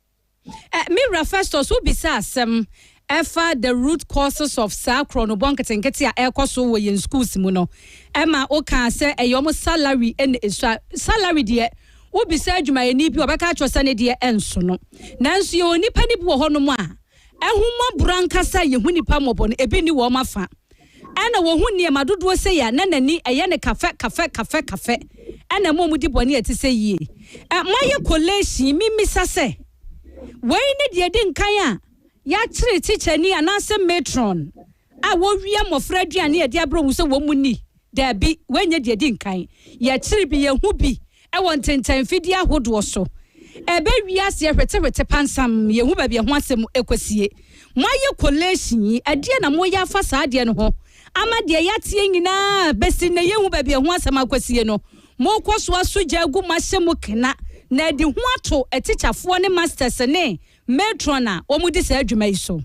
I: Eh, me wura
A: Festus wobisa asɛm ɛfa the root causes of saa korɔ no bɔ nketenkete a ɛrekɔ so wɔ yɛn schools mu no ɛma wokaa sɛ ɛyɛ ɔmo salary ɛna esua salary deɛ Wobisa adwumayɛni bi a, ɔbɛka akyerɛ wo sɛ ne deɛ ɛnso no. Nanso yɛwɔ nnipa no bi wɔ hɔnom a, ahummɔborɔ ankasa a yɛhu nnipa mmɔbɔ no, ebi nni wɔn afã. Ɛna wɔhu nneɛma dodoɔ sei a, na n'ani ɛyɛ no kafɛ kafɛ kafɛ kafɛ. Ɛna ɛma wɔdi bɔne a ɛte sɛ yie. Ɛ, moayɛ collation yi, memmisa sɛ, wei ne deɛ ɛdi nkan a yɛakyere tikyani anaasɛ matron a wɔwia mmɔfra aduane a yɛde abrɛ wɔn sɛ wɔnni? Dabi, wei nyɛ deɛ edi nkan. Yɛ akyiri bi yɛhu bi wɔ ntentan mfidie ahodoɔ so. Ɛbɛ wiaseɛ hwetehwete pansam, yɛhu baabi ɛho asɛm ɛkɔsie. Moayɛ collation yi, ɛdeɛ na moyɛ afa saa adeɛ no ho ama deɛ yɛateɛ nyinaa bɛsi nnɛ yɛnhu baabi ɛho asɛm akɔsie no, mokɔ so aso gya agu mo ahyɛ mu kena na adi ho ato atikyafoɔ ne masters ne Matron a wɔdi saa dwuma yi so.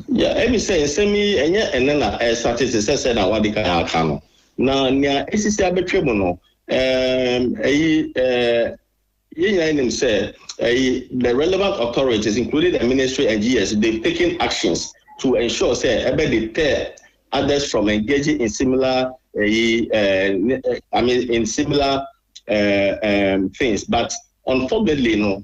A: Nea
I: ɛne sɛ, nsɛm yi ɛnyɛ ɛnnɛ na ɛresate te sɛ sɛnea wɔadi kan aka no, na nea asisi abɛtwam no, eyi yɛn nyinaa nim sɛ the relevant authorities, including the Ministry and GS, they've taken actions to ensure sɛ ɛbɛ deter others from engaging in similar eyi I mean in similar things, but unfortunately no,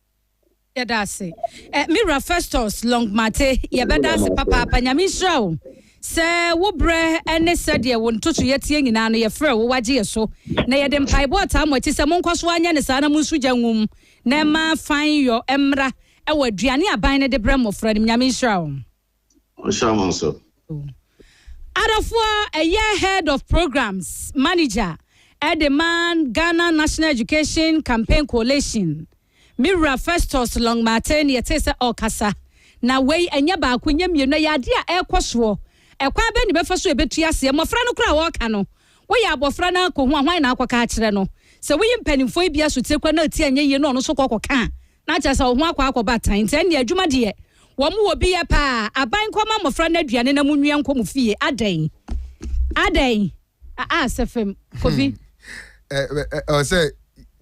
A: yɛda ase eh, me wura festus longmate yɛbɛda ase papaapa nyame nhyira wo sɛ wo berɛ ne sɛdeɛ wo ntoto yɛteɛ nyinaa no yɛfrɛ wo wagye yɛ so na yɛde mpaebɔ ataa mo akyi sɛ monkɔ so anyɛ ne saa na monso gya nwum na ɛma fan yɔ mmra ɛwɔ aduane aban no de berɛ mmɔfra no nyame nhyira wo Adɔfoɔ ɛyɛ Head of Programs Manager de ma Ghana National Education Campaign Coalition, me wura Festus Longmartin yɛtee sɛ ɔrekasa. Na wei ɛnyɛ baako, ɛnyɛ mmienu, ɛyɛ adeɛ a ɛrekɔ soɔ. Ɛkwan bɛn na yɛbɛfa so a yɛbɛtu aseɛ? Mmɔfra no koraa a wɔreka no, Woyɛ abɔfra na akɔ hu a, hwan na akɔka akyerɛ no? Sɛ woyi mpanimfoɔ yi bi asotie koraa na ɛte a ɛnyɛ yie na ɔno nso kɔ kɔka a, na kyerɛ sɛ wo ho akɔ akɔba tan. Nti ɛnneɛ adwuma deɛ, wɔn wɔ bi yɛ pa ara. Aban nkɔma mmɔfra no aduane na monwia nkɔ mo fie. Adɛn? Adɛn? Aa sɛ fam. Kɔ bi. Ɛ, ɛ,
B: ɛ, ɔsɛ.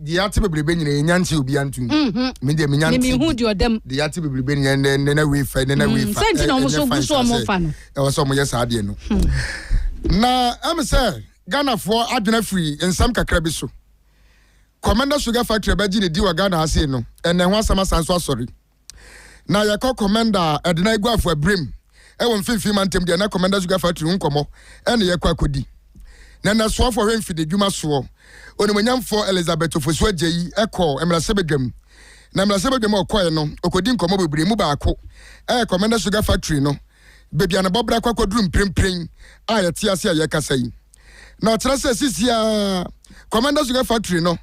B: deɛ ate bebrebe nyina yɛ nya nti obia nto nyi me deɛ menya nti mehu
A: deɛ ɔdam deɛ ate bebrebe nyina nne
B: na wei fa nne na wei fa sɛnti na ɔmo so gu so ɔmo
A: fa no ɛwɔ sɛ ɔmo yɛ saa deɛ
B: no na ɛm sɛ Ghanafoɔ adwene afiri nsɛm kakra bi so Commander Sugar Factory bɛgye ne di wɔ Ghana ase no ɛnɛ ho asɛm asan so asɔre na yɛkɔ kɔmɛnda a ɛde na aguafo abirem ɛwɔ mfimfini mantam deɛ na kɔmɛnda so gafa tiri ho nkɔmmɔ ɛne yɛkɔ akɔdi na nasoafo ɔhwɛ mfidi dwuma soɔ onimonyamfoɔ Elizabeth Ofosu Agyeyi ɛkɔ mmarahyɛbadwam na mmarahyɛbadwam a ɔkɔɛ no ɔkɔdi nkɔmmɔ bebree mu baako ɛyɛ kɔmɛnda so gafa tiri no baabi a ne bɔbra kɔ akɔduru mprempren a yɛte ase a yɛkasa yi na ɔkyerɛ sɛ sisiaa kɔmɛnda so gafa tiri no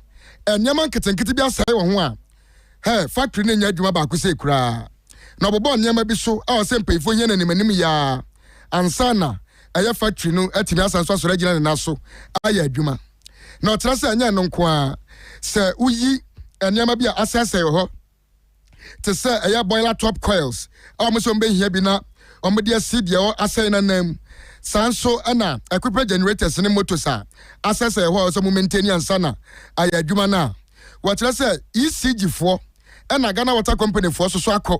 B: nneɛma nketenkete bi asɛe wɔ ho a Hɛ, factory no nyɛ adwuma baako sei koraa, na wɔbobɔɔ nneɛma bi so a ɔsɛ mpanyinfoɔ hia no animanim yi ara ansa na ɛyɛ factory no atumi asan so asɔre agyina ne nan so ayɛ adwuma. Na ɔkyerɛ sɛ ɛnyɛ ɛno nko ara, sɛ woyi nneɛma bi a asɛesɛe wɔ hɔ te sɛ ɛyɛ boiler top coils a wɔn sɛ wɔn bɛhia bi na wɔn de asi deɛ ɔ asɛe no anan mu. Saa nso na ɛkopra generators ne motors a asɛesɛe wɔ hɔ a ɔsɛ wɔn maintain ansa na ayɛ adwuma no a wɔkyerɛ sɛ ECG foɔ na Ghana Water Company foɔ soso akɔ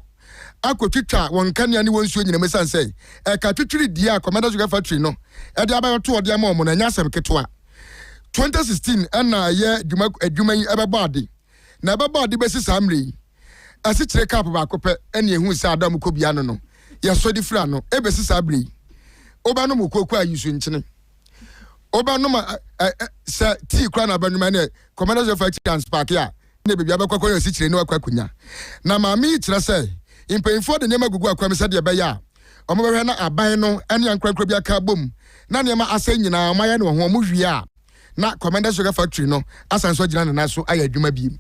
B: akɔtwitwa wɔn nkanea ne wɔn nsuo nyinam ɛsiane sɛ ɛka twitwiri die a Commander Sugar Factory no ɛde abayɔ toɔ de ama wɔn no ɛnyɛ asɛm ketewa. 2016 ɛna ɛyɛ adwuma adwuma yi ɛbɛbɔ ade na ɛbɛbɔ ade bɛsi saa mmerɛ yi asikyire kap baako pɛ ɛne ɛhu sɛ ada ɔmo kɔ bia no no yɛsɔ de firi ano ɛbɛsi saa berɛ yi wobɛnom okuokuo a yi nsu nkyene. wobɛnom sɛ tii kora na bɛnwoma ne kɔmɛdɛ sɛ fa akyi anspaake a ne baabi abɛkɔ akɔyɛ asikyire ne wakɔ akonya na maame yi kyerɛ sɛ mpanyinfoɔ de nneɛma gugu akwam sɛdeɛ ɛbɛyɛ a wɔbɛhwɛ na aban no ne ankorankoro bi aka abom na nneɛma asɛe nyinaa wɔayɛ no wɔ ho wɔn wie a na kɔmɛdɛ sugar factory no asan so agyina ne nan so ayɛ adwuma bio.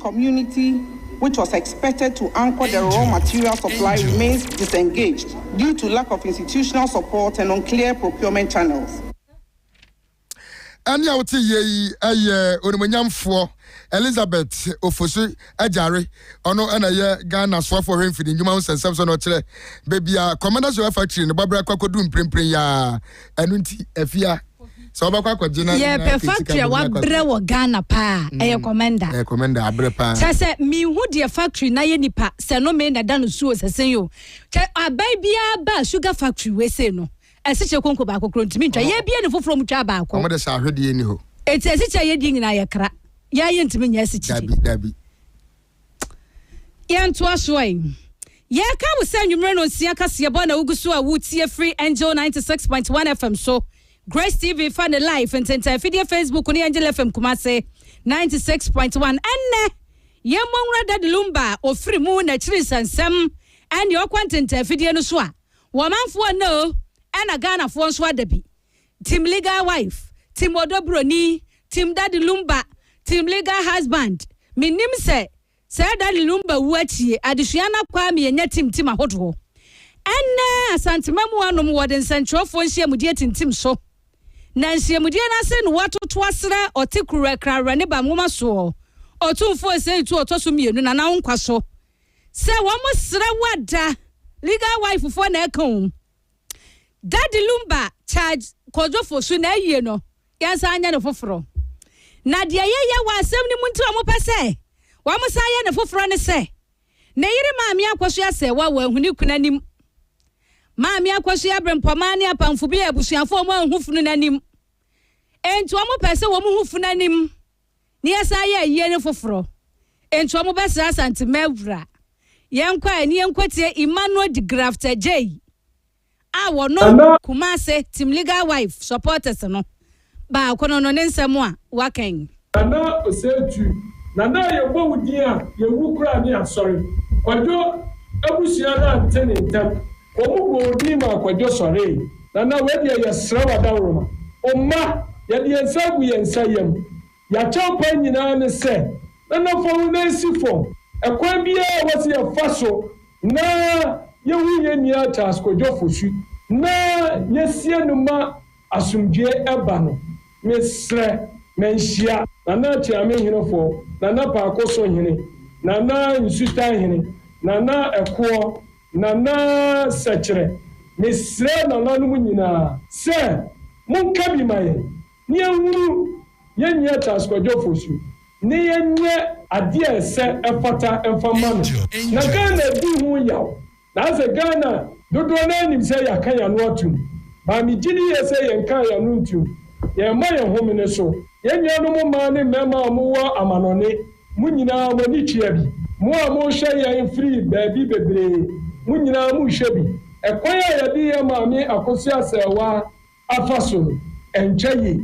J: community which was expected to anchor the raw material supply remains disengaged due to lack of institutional support and unclear procurement channels. Ɛnne
B: a wote yie yi yɛ onimuonyamfoɔ Elizabeth Ofosu Agyare. Ɔno na ɛyɛ Ghana soafoɔ hwɛ mfidi nnwuma ho nsɛnsɛm so na ɔkyerɛ baabi a Commanders Oil Factory no bɔberɛ kɔ akɔduru mprempren yi ara. ɛno nti afia sɛ wobɛkɔ akɔgye no yɛpɛ factory a
A: wabrɛ wɔ ghana paa mm. ɛyɛ kɔmɛnda ɛyɛ kɔmɛnda abrɛ paa
B: kyɛ sɛ mehu deɛ
A: factory na yɛ nipa sɛ no me na ɛda no suo sɛ sen yo kyɛ aban biara ba sugar factory wei sei no ɛsikyɛ konko baako koro ntumi ntwa yɛ bia ne foforɔ mu twa baako ɔmo de sɛ ahwedeɛ ni hɔ
B: ɛti ɛsikyɛ yɛ deɛ nyinaa
A: yɛ kra yɛ ayɛ ntumi nyɛ ɛsikyɛ dabi dabi Yɛntoa so ɛ. Yɛka wo sɛ anwummere no nsia kaseɛbɔ na wogu so a wotie firi Angel 96.1 FM so, Grace TV fa ne live ntentan afidie Facebook ne Angel FM Kumase 96.1. Ɛnnɛ, yɛmmɔ nwura Daddy Lumba a ɔfiri mu na akyiri nsɛnsɛm ɛne ɔkɔ ntentan afidie no so a wɔmanfoɔ nna o ɛna Ghanafoɔ nso ada bi. Team legal wife, team ɔdɔ broni, team daddy lumba, team legal husband, me nim sɛ sɛ daddy lumba wu akyie adesua no akɔ a me yɛ nya team team ahodoɔ. Ɛnnɛ Asantemanmuwa nom wɔ de nsɛnkyerɛwfoɔ nhyiamudie tintim so na nhyiamudie no ase no wa to to asrɛ ɔte kuruwa krawrɛ ne ba nwoma soɔ Ɔtumfoɔ Osei Tuo ɔtɔ so mmienu Nana wo nkwa so sɛ wɔn srɛ wo ada legal wife foɔ na ɛka o. Daddy Lumba charge Kwodzofo so na ewie no yɛnsan nyɛ no foforɔ. Na deɛ yɛyɛ wɔ asɛm no mu nti a wɔpɛ sɛ wɔsan yɛ no foforɔ ne sɛ, ne yere Maame Akwasu asɛewa wɔ ahu ne kunu anim. Maame Akwasu aberempɔmaa ne apamfo bi a abusuafoɔ wɔn anhu funu no anim. Enti wɔpɛɛ sɛ wɔn ho fu no anim. na yɛsan yɛ ayie no foforɔ nti wɔn bɛ sra asante mawura yɛn kɔ a na yɛn kɔ tie Emmanuel de grafter jay a wɔnom kumase team legal wife supporters no baako no no ne nsɛm a wakan. Nana osei
K: tu nana a yɛ bɔ wo din a yɛ wu koraa ne asɔre kwadwo abusua no ante ne ntɛm Wɔbobɔɔ din maa Kwadwo sɔree. Nana, wei deɛ yɛsrɛ wo adaworoma. O mma, yɛde yɛn nsa agu yɛn nsa yam. Yɛakyɛw paa nyinaa ne sɛ, Nana fa wo nan si fam. Ɛkwan biara a ɛwɔ sɛ yɛfa so na yɛhu yɛn nua Charles Kwadwo Fosu na yɛsie no ma asomdwoeɛ ba no, mesrɛ ma nhyia. Nana Atiame Hene Fɔ, Nana Paako So Hene, Nana Nsutan Hene, Nana Ɛkoɔ. Nana Sɛkyerɛ, Mesrɛ nananom nyinaa sɛ monka bi ma yɛn na yɛnhunu yɛn nua Charles Kwadwofoɔ su na yɛnyɛ adeɛ a ɛsɛ ɛfata mfa mma no. Na Ghana adi ho yaw naasɛ Ghana dodoɔ no ara nim sɛ yɛaka yɛn ano atom baa megye di yɛ sɛ yɛnkaa yɛn ano ntom yɛn mma yɛn homene so. Yɛn nuanom mmaa ne mmarima a wɔwɔ amanɔne Mo nyinaa, mo ani tua bi. Mo a morehwɛ yɛn firi baabi bebree, mo nyinaa morehwɛ bi. Ɛkwan a yɛde yɛn Maame Akosua Asɛɛwa afa so no, ɛnkyɛ yie.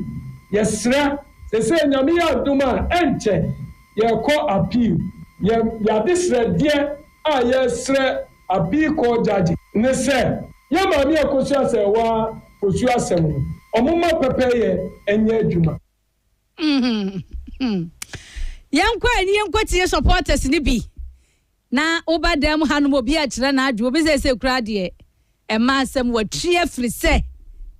K: Yɛsrɛ, seesei Nyame yɛ adom a, ɛnkyɛ yɛrekɔ appeal. Yɛn, yɛn adesrɛdeɛ a yɛresrɛ Appeal Court Judge ne sɛ, yɛn Maame Akosua Asɛɛwa Fosuo asɛm no, wɔmma pɛpɛyɛ nyɛ adwuma.
A: yɛnkɔ ani yɛnkɔtie supporters no bi na woba dan mu hanom obi akyerɛ n'adwo obi sɛ sɛ kura deɛ ɛma asɛm wɔtwe afiri sɛ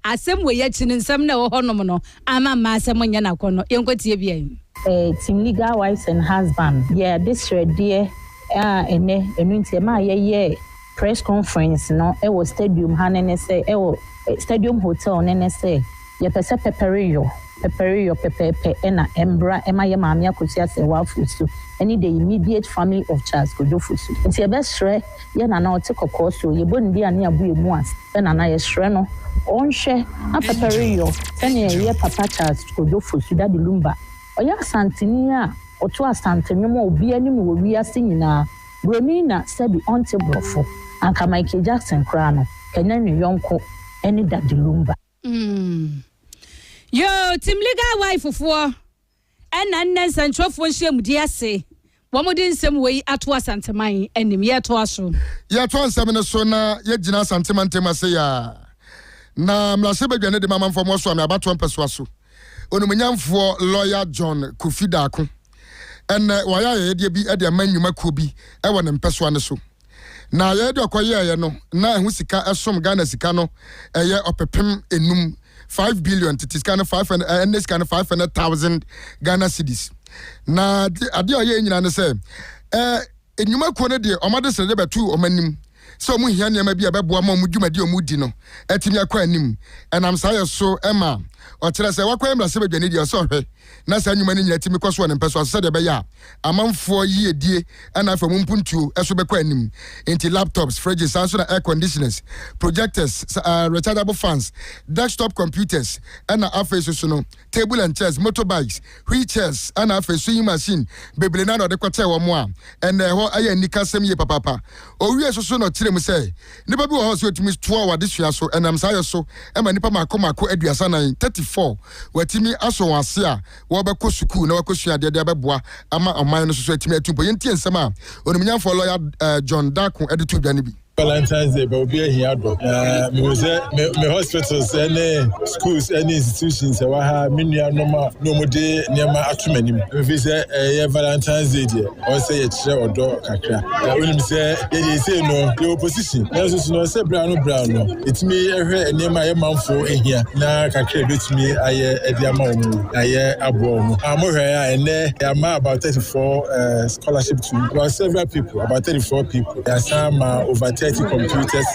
A: asɛm wɔ yɛakyi no nsɛm na ɛwɔ hɔnom no ama mma asɛm nyɛ n'akɔ no yɛnkɔtie bi ayi Eh, Team Legal
L: Wives and Husbands, yɛade srɛdeɛ a ɛnɛ, ɛno nti ɛmaa yɛyɛɛ press conference no wɔ stadium ha no ne sɛ, wɔ Stadium Hotel no ne sɛ, yɛpɛ sɛ pɛpɛreyɔ, pɛpɛreyɔ pɛpɛɛpɛ na ɛmbra ma yɛ Maame Akosua Asɛwaa Fosu ne the immediate family of Charles Kojo Fosu. Nti yɛbɛsrɛ yɛ Nana a ɔte kɔkɔɔ so, yɛbɔ ne din a ne yɛabu yɛ mu ase sɛ Nana yɛsrɛ no ɔnhwɛ na pɛpɛreyɔ sɛnea ɛyɛ Papa Charles Kojo Fosu, Daddy Lumba. Ɔyɛ Asanteni a ɔto Asante nnwom wɔ obiara anim wɔ wiase nyinaa. Buroni na sɛbi ɔnte borɔfo. Anka Michael Jackson koraa no kanyan ne yɔnko ne Daddy Lumba. Mm.
A: Yoo, Team Legal Wife foɔ ɛna nnɛ nsɛnkyerɛfoɔ nhyiamudie ase wɔn de nsɛm wei ato Asanteman anim. Yɛtoa so. Yɛtoa nsɛm no
B: so na yɛgyina Asante mantam ase yaa na mmarahyɛbadwa no de ma amanfoɔ moasoame abatoɔ mpɛsoa so Onimonyamfoɔ Lawyer John Kofi Daako. Ɛnnɛ, wayɛ ayɛyɛdeɛ bi de ama nnwuma kuo bi wɔ ne mpɛsoa no so. Na ayɛyɛdeɛ a ɔkɔyɛeɛ no, na ɛho sika som Ghana sika no yɛ ɔpepem enum, five billion, tete sika no five hundred, ɛnnɛ sika no five hundred thousand Ghana cedis. Na adeɛ a ɔyɛɛ nyinaa ne sɛ, Nnwuma kuo no de wɔn adesrɛdeɛ bɛtoo wɔn anim sɛ wɔn hia nneɛma bi a ɛbɛboa ma wɔn dwumadi a wɔredi no atumi akɔ anim. Ɛnam saa yɛ so ma ɔkyerɛ sɛ wakwan mmarahyɛbadwani deɛ ɔsɛ ɔhwɛ na saa nnwuma no nyinaa tumi kɔ so wɔ ne mpɛ so ase sɛdeɛ ɛbɛyɛ a amanfoɔ yiedie na afei wɔn mpuntuo so bɛkɔ anim. Enti laptops, fridges, saa nso na air conditioners, projectors, rechargeable fans, desktop computers, na afei soso no table and chairs, motorbikes, wheel chairs ɛna afei sewing machine bebree na na ɔde kɔkyɛɛ wɔn a ɛna ɛhɔ ɛyɛ anikasɛm yie papaapa. Ɔwiee so so na ɔkyerɛɛ mu sɛ nnipa bi wɔ hɔ a sɛ wɔtumi toa wɔn adesua so ɛnam saa yɛ so ɛma nnipa mmaako mmaako aduasa nan, thirty four, wɔatumi asɔ wɔn ase a wɔrebɛkɔ sukuu na wɔakɔsua adeɛ de abɛboa ama ɔman no so so atumi atu mpɔ. Yɛntie nsɛm a Onimunyamfoɔ Lɔya John Darko de too dwa no bi. Valentine's
M: Day bɛ obi ahia dɔ na mehu sɛ me me hospitals ne schools ne institutions ɛwɔ ha me nuanom a na wɔn de nneɛma ato m'anim efi sɛ ɛyɛ Valentine's Day deɛ wɔn sɛ yɛkyerɛ ɔdɔ kakra na wonim sɛ yɛde ese no yɛ opposition nanso so na ɔsɛ bra no bra no etumi ɛhwɛ nneɛma a yɛ manfo ehia na kakra ebetumi ayɛ ɛde ama wɔn yi na yɛ aboa wɔn a mohwɛ a ɛnɛ yɛ ama about thirty four eh, scholarship to about several people about thirty four people. Yɛasan ma over thirty computers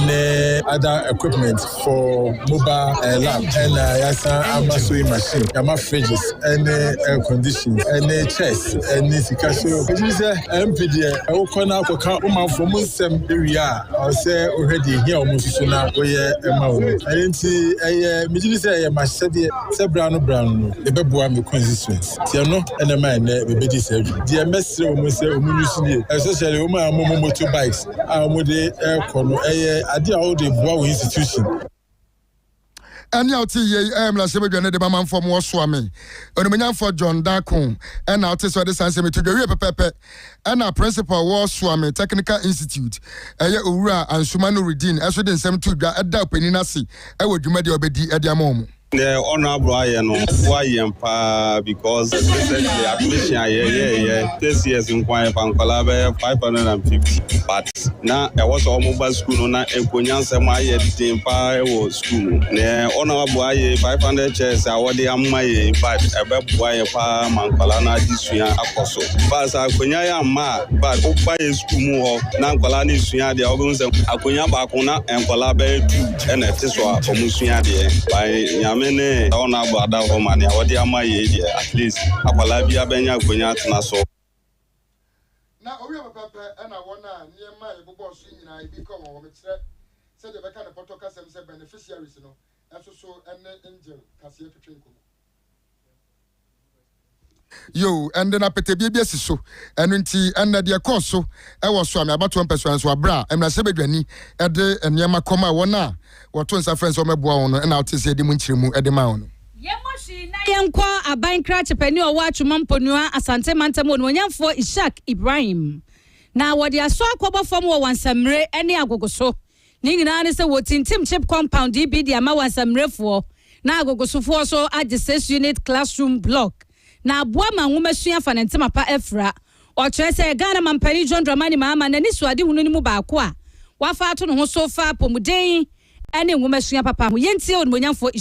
M: ne other equipment for mobile lab ɛna yɛasan ama sewing machine, yɛama fridges ne air conditions ne chairs ne sika so. Megye di sɛ MP deɛ wokɔ na akɔka wo manfoɔ mu nsɛm wie a, ɛwɔ sɛ wohwɛ deɛ ɛhia wɔn nso so na woyɛ ma wɔn. Ɛno nti ɛyɛ megye di sɛ ɛyɛ m'ahyɛdeɛ sɛ berɛ ano berɛ ano no mebɛboa me constituents. Deɛ no na ɛma ɛnnɛ mebɛdi saa dwuma. Deɛ mɛsrɛ wɔn ne sɛ wɔn nnusu nie, especially wɔn a wɔn motor bikes a wɔde rekɔ no, ɛyɛ adeɛ a wɔde boa wɔn institution.
B: Ɛne a wote yie yi ɛyɛ mmarahyɛ badwa ne de ma manfoɔ mo wɔsoa me onimunyamfoɔ John Dako ɛna wote sɛ ɔde saa nsɛm to dwa wie pɛpɛpɛ ɛna principal wɔsoa me technical institute ɛyɛ owura Ansuma Nuruddin ɛso de nsɛm to dwa ɛda ɔpanin ase ɛwɔ dwumadi a ɔbɛdi ɛde ama wɔn Deɛ honourable
N: ayɛ no boa yɛn paa because recently admission a yɛyɛɛyɛ this years nko ara yɛfa nkwadaa bɛyɛ five hundred and fifty but na ɛwɔ sɛ wɔn ba sukuu no na nkonnyansɛm ayɛ den paa wɔ sukuu mu deɛ honourable ayɛ five hundred chairs a wɔde ama yɛn in fact ɛbɛboa yɛn paa ma nkwadaa no adesua akɔ so but sɛ akonnwa yɛ amma a but woba yɛ sukuu mu hɔ na nkwadaa no sua adeɛ a wɔbɛhu sɛ akonnwa baako na nkwadaa bɛyɛ two. ɛna ɛte so a ɔmo sua adeɛ by Nyame ne Ɔno abɔ adaworo ma nea ɔde ama yei deɛ at least akwadaa biara bɛnya akonya atena so.
B: Na ɔwiee pɛpɛɛpɛ ɛna wɔn a nneɛma a yɛbobɔɔ so yi nyinaa ebi kɔɔ wɔn hɔ. Mekyerɛ sɛdeɛ yɛbɛka no pɔtɔ kasam sɛ beneficiaries no nso so ne angel kaseɛ twetwe nkɔmmɔ. yo ɛnde na pɛtɛbie bi asi so ɛno nti ɛnna deɛ ɛkɔɔ so ɛwɔ so ame abatoɔ mpɛsoa nso abera mmarahyɛ badwani ɛde nneɛma kɔm a wɔn a wɔto nsa frɛ sɛ wɔmɛboa wɔn no ɛna wote sɛ ɛde mu nkyerɛmu ɛde maa wɔn. Yɛmmɔ hwi
A: na yɛnkɔ aban krakyepani ɔwɔ Atwoma Mponua Asante mantam onuonyamfoɔ Ishaq Ibrahim na wɔde asɔ akɔbɔ fam wɔ Wansammire ne Agogo so Ne nyinaa ne sɛ wɔtintim chip compound yi bi de ama wɔn asammerɛfoɔ na agogosofoɔ so agye six unit classroom block na aboa ma nwomasua fa ne ntema pa afira. Ɔkyerɛ sɛ Ghana Mampanin John Dramani Mahama n'anisoadehunu no mu baako a wafa ato ne ho so fa apɔmuden ne nwomasua papa ho. Yɛntie Onimuonyamfoɔ.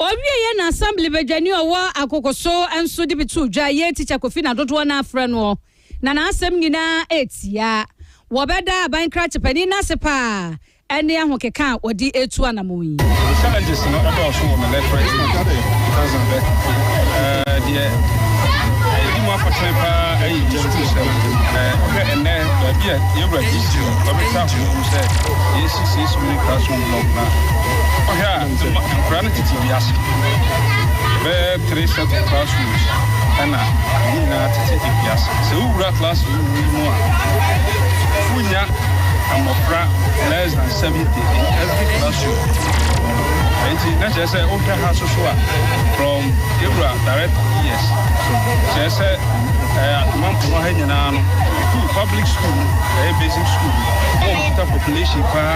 A: Ɔwieɛ na Assembly badwani ɔwɔ Akokoso nso de bi too dwa, yei Teacher Kofi na dodoɔ no ara frɛ noɔ, na n'asɛm nyinaa yɛ tia. Wɔbɛda aban krakye panin no ase pa ara ne ahokeka a ɔde retu anammɔn yi. Me challenges no dɔɔso wɔ me literate
O: mu because of the uh, deɛ ɛdi mu akɔtene paa ɛyɛ history sɛm wohwɛ ɛnɛ baabi a yɛwura history ɔbɛtra ho mu sɛ yɛsi sɛ yɛsi mu ne classroom Ɔkra. Wokɔhwɛ a, nkwadaa no tete wiase. Ɛbɛyɛ three set of classrooms ɛna ɛmu nyinaa tete wiase. Sɛ wowura classroom yi mu a, wonya mmɔfra less than seventy in every classroom. Enti na kyerɛ sɛ wohwɛ ha soso a from ewura direct years kyerɛ sɛ ɛɛ atomampo no ha nyinaa no school public school ɛyɛ basic school wɔn kita population paa.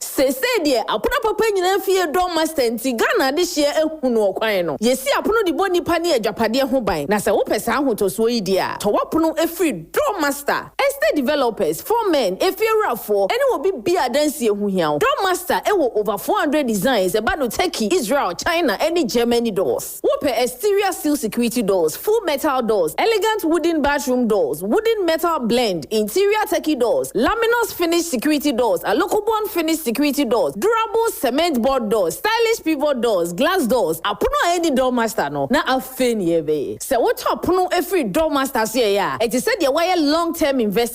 P: Seesei deɛ apono papa nyinaa fie dɔ master nti Ghana adehyeɛ ahu no ɔkwan no. Yɛsi apono de bɔ nnipa ne agyapadeɛ ho ban na sɛ wopɛ saa ahotɔsoɔ yi deɛ a, tɔ w'apono firi Dɔ Master Estate Developers, Four Men, Efiewurafoɔ ne obi biara a adansie ho hia wo. Dɔ Master wɔ over 400 designs ɛba no Turkey, Israel, China ne Germany doors. Wopɛ exterior steel security doors, full metal doors, elegant wooden bathroom doors, wooden metal blend, interior turkey doors, laminous finished security doors, alokobon finished security doors, durable cement board doors, stylish pivot doors, glass doors, apono a ɛnni doormaster no, na afei ne yɛrebɛyɛ. Sɛ wotɔ pono firi doormaster so yɛeɛ a, ɛte sɛ deɛ woayɛ long term investment.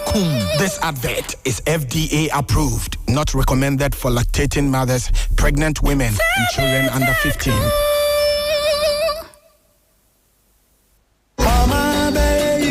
Q: Kum. This advert is FDA approved, not recommended for lactating mothers, pregnant women, and children under 15.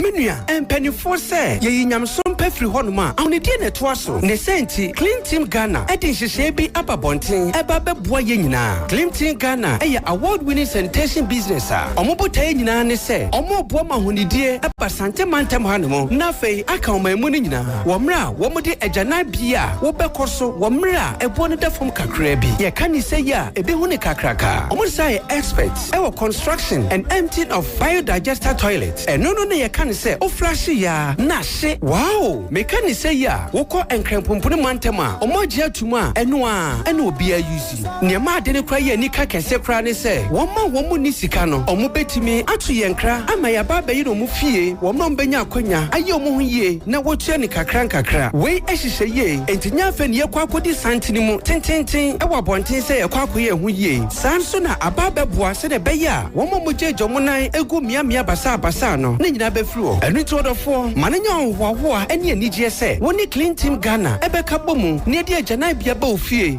R: menua mpanimfoɔ sɛ yɛyi nyamesom pɛ firi hɔnom a ahonedeɛ na ɛtoa so ne sɛ nti clean team ghana de nhyehyɛe bi aba bɔnten ɛba bɛboa yɛ nyinaa clean team ghana ɛyɛ award winning sanitation business a ɔmo botaeɛ nyinaa ne sɛ ɔmo boa ma ahonedeɛ ɛba Sante mantam ha no mu, na afei aka ɔman mu no nyinaa, wɔ mmerɛ a wɔde agyanan bea a wobɛkɔ so wɔ mmerɛ a ɛboɔ no da fam kakraa bi. Yɛka no sɛ yi a, ɛbi ho no kakraka. Wɔn san yɛ experts wɔ construction and emptying of biodigester toilets. Ɛno no na yɛka no sɛ woflashe yɛ ara na ahye. Wow! Meka no sɛ yi a, wokɔ Nkrɛnpompone mantam a, wɔn agye atum a, ɛno ara na obiara use. Nea ɛma ade no koraa yɛ anika kɛse koraa ne sɛ, wɔn a wɔnni sika no, wɔbetumi ato yɛn nkra ama yɛaba abɛyɛ wɔn fie. Wɔn a wɔbenya akwannya ayɛ wɔn ho yiye na wotua no nkakrankakra. Wei hyehyɛ yie, enti nyɛ afei na yɛkɔ akodi santen mu tenteenten wɔ abɔnten sɛ yɛkɔ akɔyɛ yɛn ho yiye. Saa ara nso na aba abɛboa sɛnea ɛbɛyɛ a wɔn a wɔgyaagyaa wɔn nan gu mmeammea basaabasaa no, ne nyinaa befiri hɔ. Ɛno nti, ɔdɔfoɔ, ma no nyɛ ahohoahoa ne anigyeɛ sɛ wo ne Clean Team Ghana bɛka abɔ mu na yɛde agyananbea aba wo fie.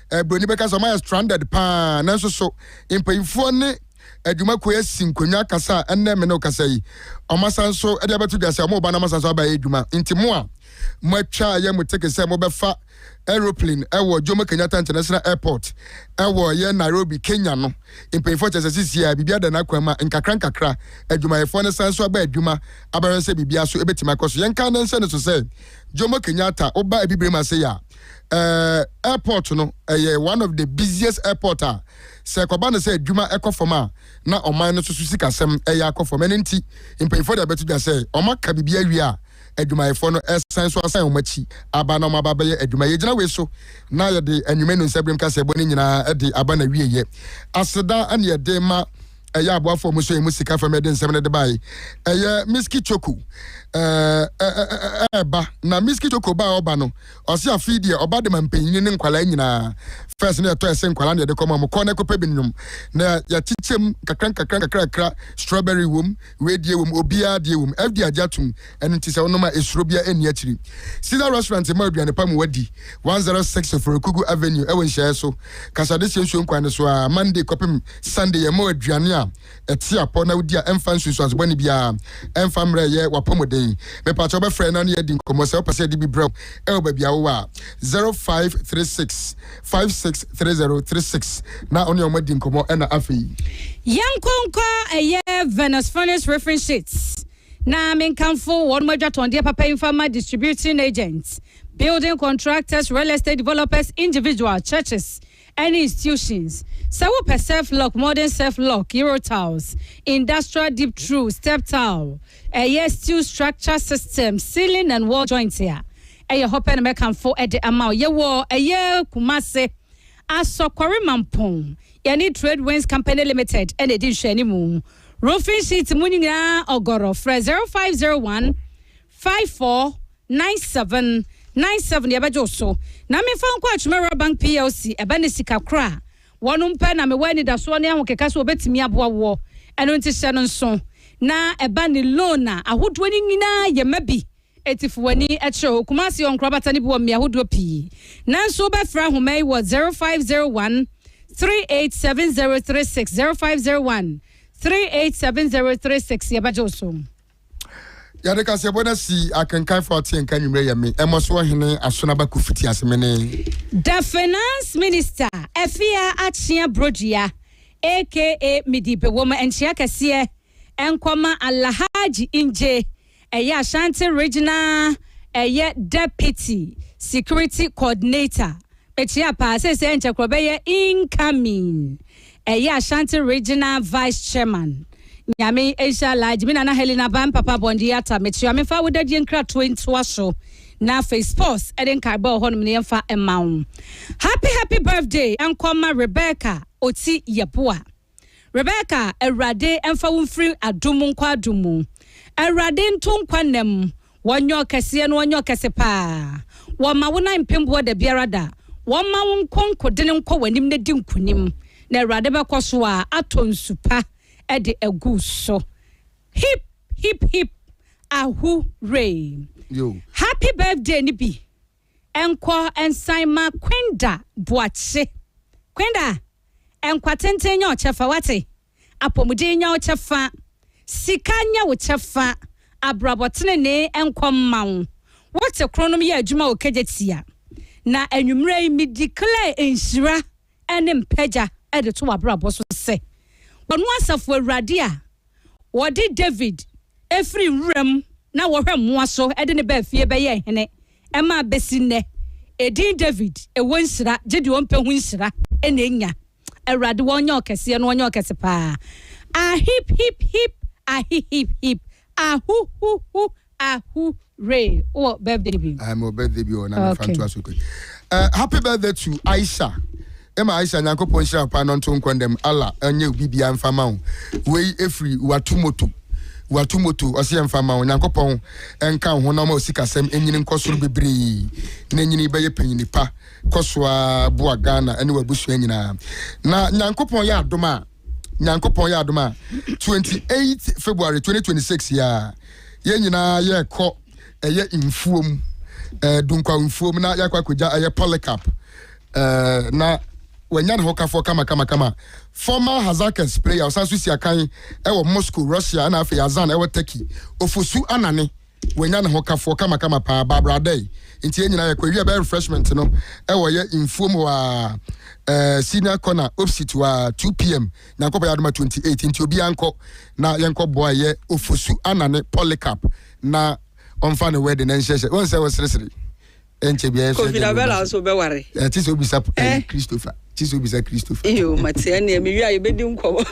B: eh, buroni bɛka sɛ ɔmayɛ stranded paa nanso so mpanyinfoɔ ne adwumakuo asi nkonnwa kasa a ɛnnɛ me ne kasa yi ɔmasan so de abɛto dwa sɛ ɔmo ba no ɔmasan so abayɛ adwuma nti mo a moatwa yɛ mo teke sɛ mobɛfa aeroplane ɛwɔ Jomo Kenyatta International Airport ɛwɔ yɛ Nairobi Kenya no mpanyinfoɔ kyɛ sɛ sisi a biribi ada n'akwan ma nkakra nkakra adwumayɛfoɔ no san so aba adwuma abɛhwɛ sɛ biribi aso ɛbɛtumi akɔ so yɛnka ne nhyɛ no so sɛ Jomo Kenyatta woba abibire mu ase yɛ a Eh, airport no, ɛyɛ one of the busiest airport a sɛ ɛkɔba no sɛ adwuma ɛkɔ fam a, na ɔman no nso so sikasɛm ɛyɛ akɔ fam. Ɛno nti, mpanyinfoɔ de abɛto dwa sɛ wɔaka biribi awie a, adwumayɛfoɔ no ɛsan so asan wɔn akyi aba na wɔaba abɛyɛ adwuma. Yɛgyina wei so na yɛde Anwumenu Nsaberem Kaseɛbɔ no nyinaa de aba n'awieeɛ. Aseda ne yɛde ma. ɛyɛ aboafoɔ mu nso yɛ mu sika fam ɛde nsɛm no de bae ɛyɛ miski choko ɛɛba na miski choko ba ɔba no ɔse afei deɛ ɔba de ma mpanyini ne nkwalaa nyinaa fɛs no yɛtɔ ɛse nkwalaa na yɛde kɔma ɔmo kɔ na ɛkɔpɛ bi nnwom na yɛkyekyɛm kakra nkakra nkakrakra strawberry wom wedeɛ wom obiara deɛ wom fdi agye atom Ɛno nti sɛ wonom a esuro biara nni akyiri. Caesar Restaurant mma aduane pa mu wadi, one hundred six Oforekugu Avenue ɛwɔ nhyiaɛ so kasa de sie nsuo nkwan no so aa Monday kɔpem Sunday yɛn mɔ aduane a ɛte apɔ na wodi a ɛmfa nsunsuanso bɔne biara ɛmfa mmerɛ ɛyɛ wapɔmuden mepakyɛ wo bɛfrɛ na ne yɛadi nkɔmmɔ sɛ wopɛ sɛ yɛde bi brɛ wo ɛwɔ baabi a wowɔ a zero five three six five six three zero three six na wo ne wɔn adi nkɔmmɔ ɛna afei. Yɛnkɔ nkɔ
A: ɛyɛ Venus Furnace Roofing Sheets Na menkamfo wɔnom adwatɔndeɛ papa yi mfa ma distributing agents, building contractors, real estate developers, individual, churches ɛne institutions. Sɛ wopɛ surf lock, modern surf lock, euro tiles, industrial deep through, step tile, ɛyɛ steel structure system, ceiling and wall joints a, ɛyɛ hɔ pɛ na mɛkamfo de ama wo. Yɛwɔ ɛyɛ Kumase, Asɔkɔre Mampong, yɛne Trade Winds Company Limited ɛna ɛdi nhwɛanimu. Roofing sheet mu nyinaa ɔgɔrɔ, frɛ 0501 54 97 97 yɛbɛgye wo so. Na memfa nkɔ Atwima Rural Bank plc, ɛbɛ ne sika korɔ a, wɔnom pɛ na mewɔ anidasoɔ ne ahokeka sɛ wɔbɛtumi aboa woɔ, ɛno nti hyɛ no nso. Na ɛbɛ ne loan a ahodoɔ no nyinaa yɛma bi Etsifo w'ani kyerɛ hɔ. Kumasi wɔ nkorabata no bi wɔ mbea hodoɔ pii. Nanso wobɛfrɛ ahoma yi wɔ 0501 387036, 0501 387036, yɛbɛgye wo so.
B: Yɛde kaseɛbɔ no asi akenkanfo a ɔte yɛn nka anwummerɛ yɛ me ɛmmɔ so ɔhene Asonaba Kofi Tiasemene. The Finance
A: Minister Afia Akyea Brodua aka Midi Bewom nkyea kɛseɛ nkɔma Alhaji Ingye Ɛyɛ Ashanti Regional ɛyɛ Deputy Security Coordinator bɛkyia paa seesei ɛnkyɛ korɔ bɛyɛ Incoming ɛyɛ Ashanti Regional Vice Chairman Nyame nhyira Alhaji me Nana Helena Ba me Papa Bɔndee Atta mekyia me mfa wo dadie nkratoɔ ntoa so na afei Sports ɛde nkaebɔ a ɛwɔ hɔnom no yɛmfa mma wo Happy Happy Birthday nkɔ ma Rebecca Oti Yeboah. Rebecca awurade mfa wo mfiri adom nkɔ adom mu awurade nto nkwa nna mu wɔnyɛ ɔkɛseɛ no wɔnyɛ ɔkɛse paa wɔma wo nan mpemboɔ da biara da wɔma wo nkonkodene nkɔ w'anim na di nkonim na awurade bɛkɔ so a atɔ nsu pa de agu so hip hip hip ahu rei happy
B: birthday
A: no bi Nkɔ nsan ma Kwenda Boakye. Kwenda, nkwa tenten nyɛ wo kyɛfa, woate? Apɔmuden nyɛ wo kyɛfa. Sika nyɛ wo kyɛfa. Abrabɔ tenenee nkɔ mma wo. Wote koronom yɛ adwuma wɔ Kejetia. Na anwummerɛ yi, midi klɛɛ nhyira ne mpagya de to w'abrabɔ so sɛ, Ɔno asafo Awurade a ɔde Dawid firii wuram na wɔhwɛ mmoa so de no baa fie bɛyɛɛ hene ma abɛsi nnɛ, edin Dawid, ɛwɔ nhyira, gye deɛ ɔmpɛ ho nhyira na ɛnya. Awurade, wɔnyɛ wo kɛseɛ na wɔnyɛ wo kɛse paa. Ahip, hip, hip, ahi, hip, hip, ahu, hu, hu, Ahu Ray wɔ birthday bi. Ah mewɔ birthday bi o na
B: mefa okay. ntoa so kwe. Uh, happy birthday to Aisha. Emma Aisha Nyankopɔn hyira wo paa no nto nkɔ ndɛm Allah ɛnyɛ obi bia mfa ma wo. Wei efiri watomoto. Watomoto ɔsɛ mfa ma wo. Nyankopɔn ɛnka wo ho na ɔma wo sikasɛm ɛnyini nkɔ soro bebree. Na ɛnyini bɛyɛ panyini pa. Kɔ so a boa Ghana ɛne w'abusua nyinaa. Na Nyankopɔn yɛ adom a nyankopɔn yɛ adom a 28 february 2026 yɛ a yɛn nyinaa yɛkɔ ɛyɛ mfuom eh, dunkwa mfuom na yɛakɔ akɔgya ɛyɛ polycarp eh, na wanya ne ho kafoɔ kamakamakama former hazakes player ɔsan so si akan ɛwɔ moscow russia ɛna afei azan ɛwɔ turkey ofosu anane Wanya ne ho kafoɔ kamakama paa Barbara adai nti yɛn nyinaa yɛkɔ ɛwia ɛbɛyɛ refreshment no ɛwɔ yɛ nfuom hɔ aa ɛɛ senior corner opsit hɔ aa 2pm Nyankopɔn yɛ adom a 28 nti obiaa nkɔ na yɛnkɔ boa yɛ Ofosu Anane Polycarp na ɔnfa ne wedding no nhyɛ hyɛ wohu sɛ wo seresere ɛnkyɛ biaa yɛso Covid abɛla nso wobɛware
C: ɛɛ te sɛ obisa ɛɛ
B: eh. Christopher te sɛ obisa Christopher
C: iyo mate ɛneɛ mewie a yɛbɛdi nkɔmɔ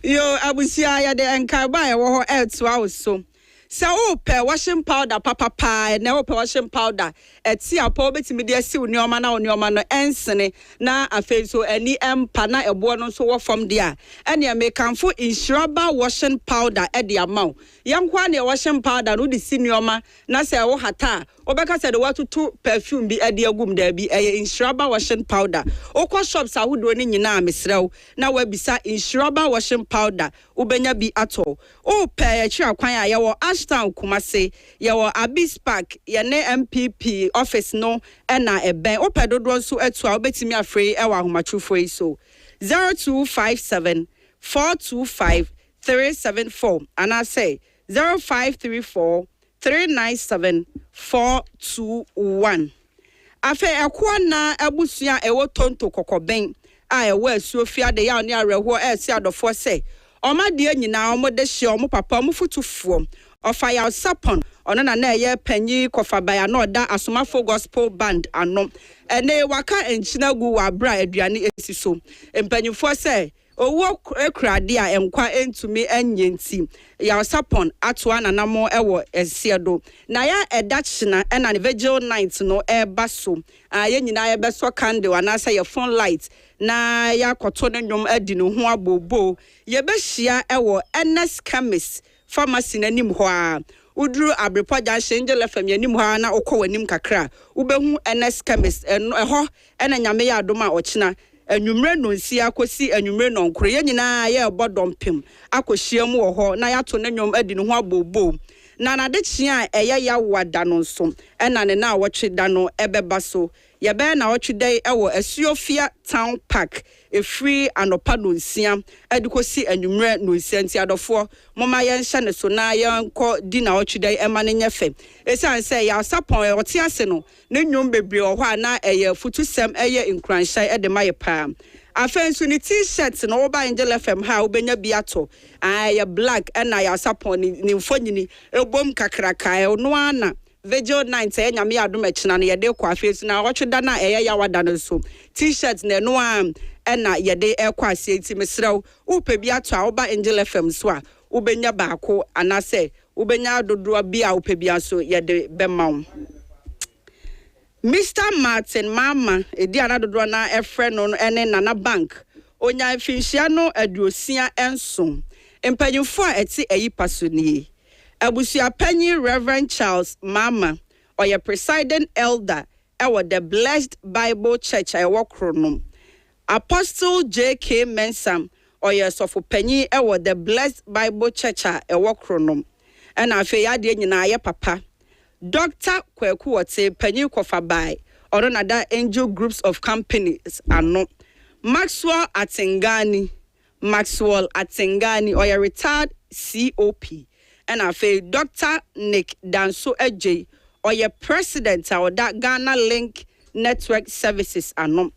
C: iyo abusua yɛde nkaebɔ a ɛwɔ hɔ ɛɛtoa wo so Sɛ wopɛ washing powder papa paa ɛnɛ, wopɛ washing powder ɛte apɔ a wobɛtumi de asiw nneɛma na wo nneɛma no ɛnsene na afei nso ani ɛmpa na ɛboɔ no nso wɔ fam deɛ a, ɛnneɛ mekamfo Nhyiraba washing powder de ama wo. Yɛ nko ara na yɛ washing powder no wode si nneɛma na sɛ wohata a, wobɛka sɛ deɛ woatoto perfume bi de agu mu. Daabi, ɛyɛ Nhyiraba washing powder. Wokɔ shops ahodoɔ no nyinaa a, mesrɛ wo na woabisa Nhyiraba washing powder Wobɛnya bi atɔ. O pɛɛ akyiri akwan a, yɛwɔ Ashtown Kumasi, yɛwɔ Abis Park, yɛne NPP office no na ɛbɛn. Wopɛ dodoɔ nso atu a, wobɛtumi afrɛ yi wɔ ahomatorofoɔ yi so, 0257 425 374 anaasɛ 0534 Three nine seven four two one Afei ɛkoa nnaa abusua a ɛwɔ Tonto Kɔkɔben a ɛwɔ Asuo fie ade yaw ne awerɛhoɔ resi adɔfoɔ sɛ wɔn adeɛ nyinaa wɔn de hyeɛ wɔn papa wɔn fotufoɔ Ɔfayaw Sapon ɔno na na ɛyɛ panyin Kɔfaban a na ɔda Asomafoɔ Gospel Band ano ɛne waka nkyene agu wɔ aberɛ a aduane si so mpanyinfoɔ sɛ Owuo kura ade a nkwa ntumi nnye nti, Yarsapon atoa n'anammɔn wɔ ɛseɛ do. Na ya ɛda kyena na ne vigil night no reba so a, yɛn nyinaa yɛbɛsɔ candle anaasɛ yɛ phone light na yɛakɔto ne nnwom adi ne ho abooboo. Yɛbɛhyia wɔ Ernest Chemist Pharmacy no anim hɔ ara. Woduru Abirepɔ Junction, Angel FM yɛ anim hɔ ara na wokɔ w'anim kakra a, wobɛhu Ernest Chemist. Ɛn, ɛhɔ na Nyame yɛ adom a ɔkyena anwummere nnɔnsia kɔsi anwummere nnɔnkron, yɛn nyinaa yɛrebɔ dɔmpem akɔhyiam wɔ hɔ na yɛato ne nnwom adi ne ho abooboo. Na n'adekyee a ɛyɛ Yawoa da no nso na ne nnawɔtwe da no bɛba so Yɛbɛyɛ naawɔtwe da yi wɔ Asuofia Town Park ɛfiri anɔpa nonsia de kɔsi anwummerɛ nonsia nti adɔfoɔ momma yɛnhyɛ no so na yɛnkɔ di naawɔtwe da yi ɛma no nyɛ fɛ. Ɛsiane sɛ ɛyɛ Asapɔn a ɔte ase no, ne nnwom bebree wɔ hɔ a na ɛyɛ afutusɛm ɛyɛ nkuranhyɛe de ma yɛ pa ara. Afei nso ne T-shirt no woba Angel FM ha a wobɛnya bi atɔ. Aah ɛyɛ black ɛna yɛ Asapɔn ne mfonyini bom kakraka ɛno ara na. Vigil night sɛ Nyame yɛ adom a kyena no yɛde rekɔ afie so na awɔtwe da no a ɛyɛ yawa da no nso T-shirt na ɛno ara na yɛde rekɔ aseɛ nti mesrɛ wo wopɛ bi ato a woba Angel FM so a wobɛnya baako anaasɛ wobɛnya dodoɔ bi a wopɛ biara nso yɛde bɛma wo. Mister Martin Marma, edin a na dodoɔ no ara frɛ no no ne Nana Bank, ɔnyaa mfinhyia no aduosia nson. Mpanyimfoɔ a ɛte ayi pa so nie, Abusuapanyin Rev. Charles Marma, ɔyɛ Presiding Elder wɔ The Blessed Bible Church a ɛwɔ Kronom. Apostle J. K. Mensah, ɔyɛ Ɔsɔfopanyin wɔ The Blessed Bible Church a ɛwɔ Kronom. Ɛna afei adeɛ nyinaa ayɛ papa. Dɔkta Kwaku Wɔte, Panyin Kɔfa Bae, ɔno na da Angel Groups of Companies ano. Maxwell Atengani, Maxwell Atengani, ɔyɛ retired COP. Ɛna afei Dɔkta Nick Danso Adjei, ɔyɛ President a ɔda Ghana Link Network Services ano.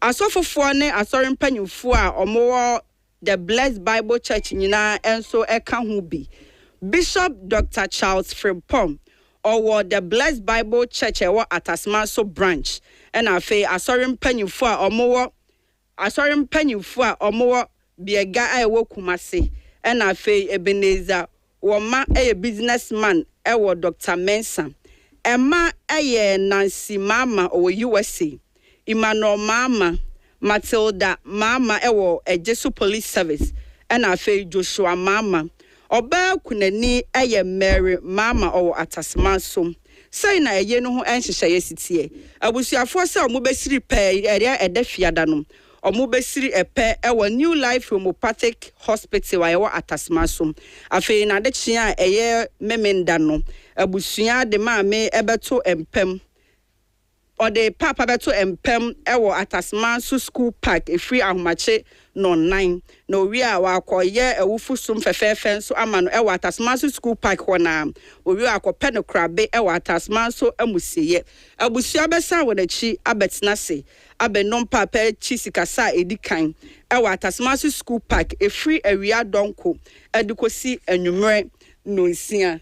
C: Asɔfofoɔ ne Asɔre mpanyimfoɔ a wɔwɔ The Blessed Bible Church nyinaa nso ka ho bi. Bishop Doctor Charles Frimpong, ɔwɔ The Blessed Bible Church a ɛwɔ Atasman-so Branch, ɛna afei Asɔre mpanyimfo a wɔwɔ Asɔre mpanyimfo a wɔwɔ Biega a ɛwɔ Kumasi, ɛna afei Ebenezer wɔ mma yɛ business man wɔ Doctor Mensah mma yɛ Nancy Maama ɔwɔ USA, Emmanuel Maama, Matilda Maama wɔ Ejisu Police Service ɛna afei Joshua Maama. Ɔbaa kunani yɛ Mary Maama ɔwɔ Atasemanso. Sɛi na ɛyɛ no ho nhyehyɛeɛ si teɛ. Abusuafoɔ sɛ wɔbɛsiri pɛɛ ɛyɛ ɛdɛ fiada no Wɔbɛsiri pɛ wɔ New Life Homeopathic Hospital a ɛwɔ Atasmaso. Afei n'adekyee a ɛyɛ Memenda no, abusua de Maame bɛto mpam. Wɔde Paapa bɛto mpam wɔ Atasmaso School Park ɛfiri ahomakye nnɔnnan, na ɔwie a wɔakɔyɛ awufo som fɛfɛɛfɛ nso ama no wɔ Atasmaso School Park hɔ no ara. Ɔwie a wɔakɔpɛ no korabe wɔ Atasmaso Amusieɛ. Abusua bɛsan wɔn akyi abɛtena ase abɛnom paapa akyi sikasa a edi kan wɔ Atasmase Sukuu Park ɛfiri awia dɔnko de kɔsi anwummerɛ nnɔnsia.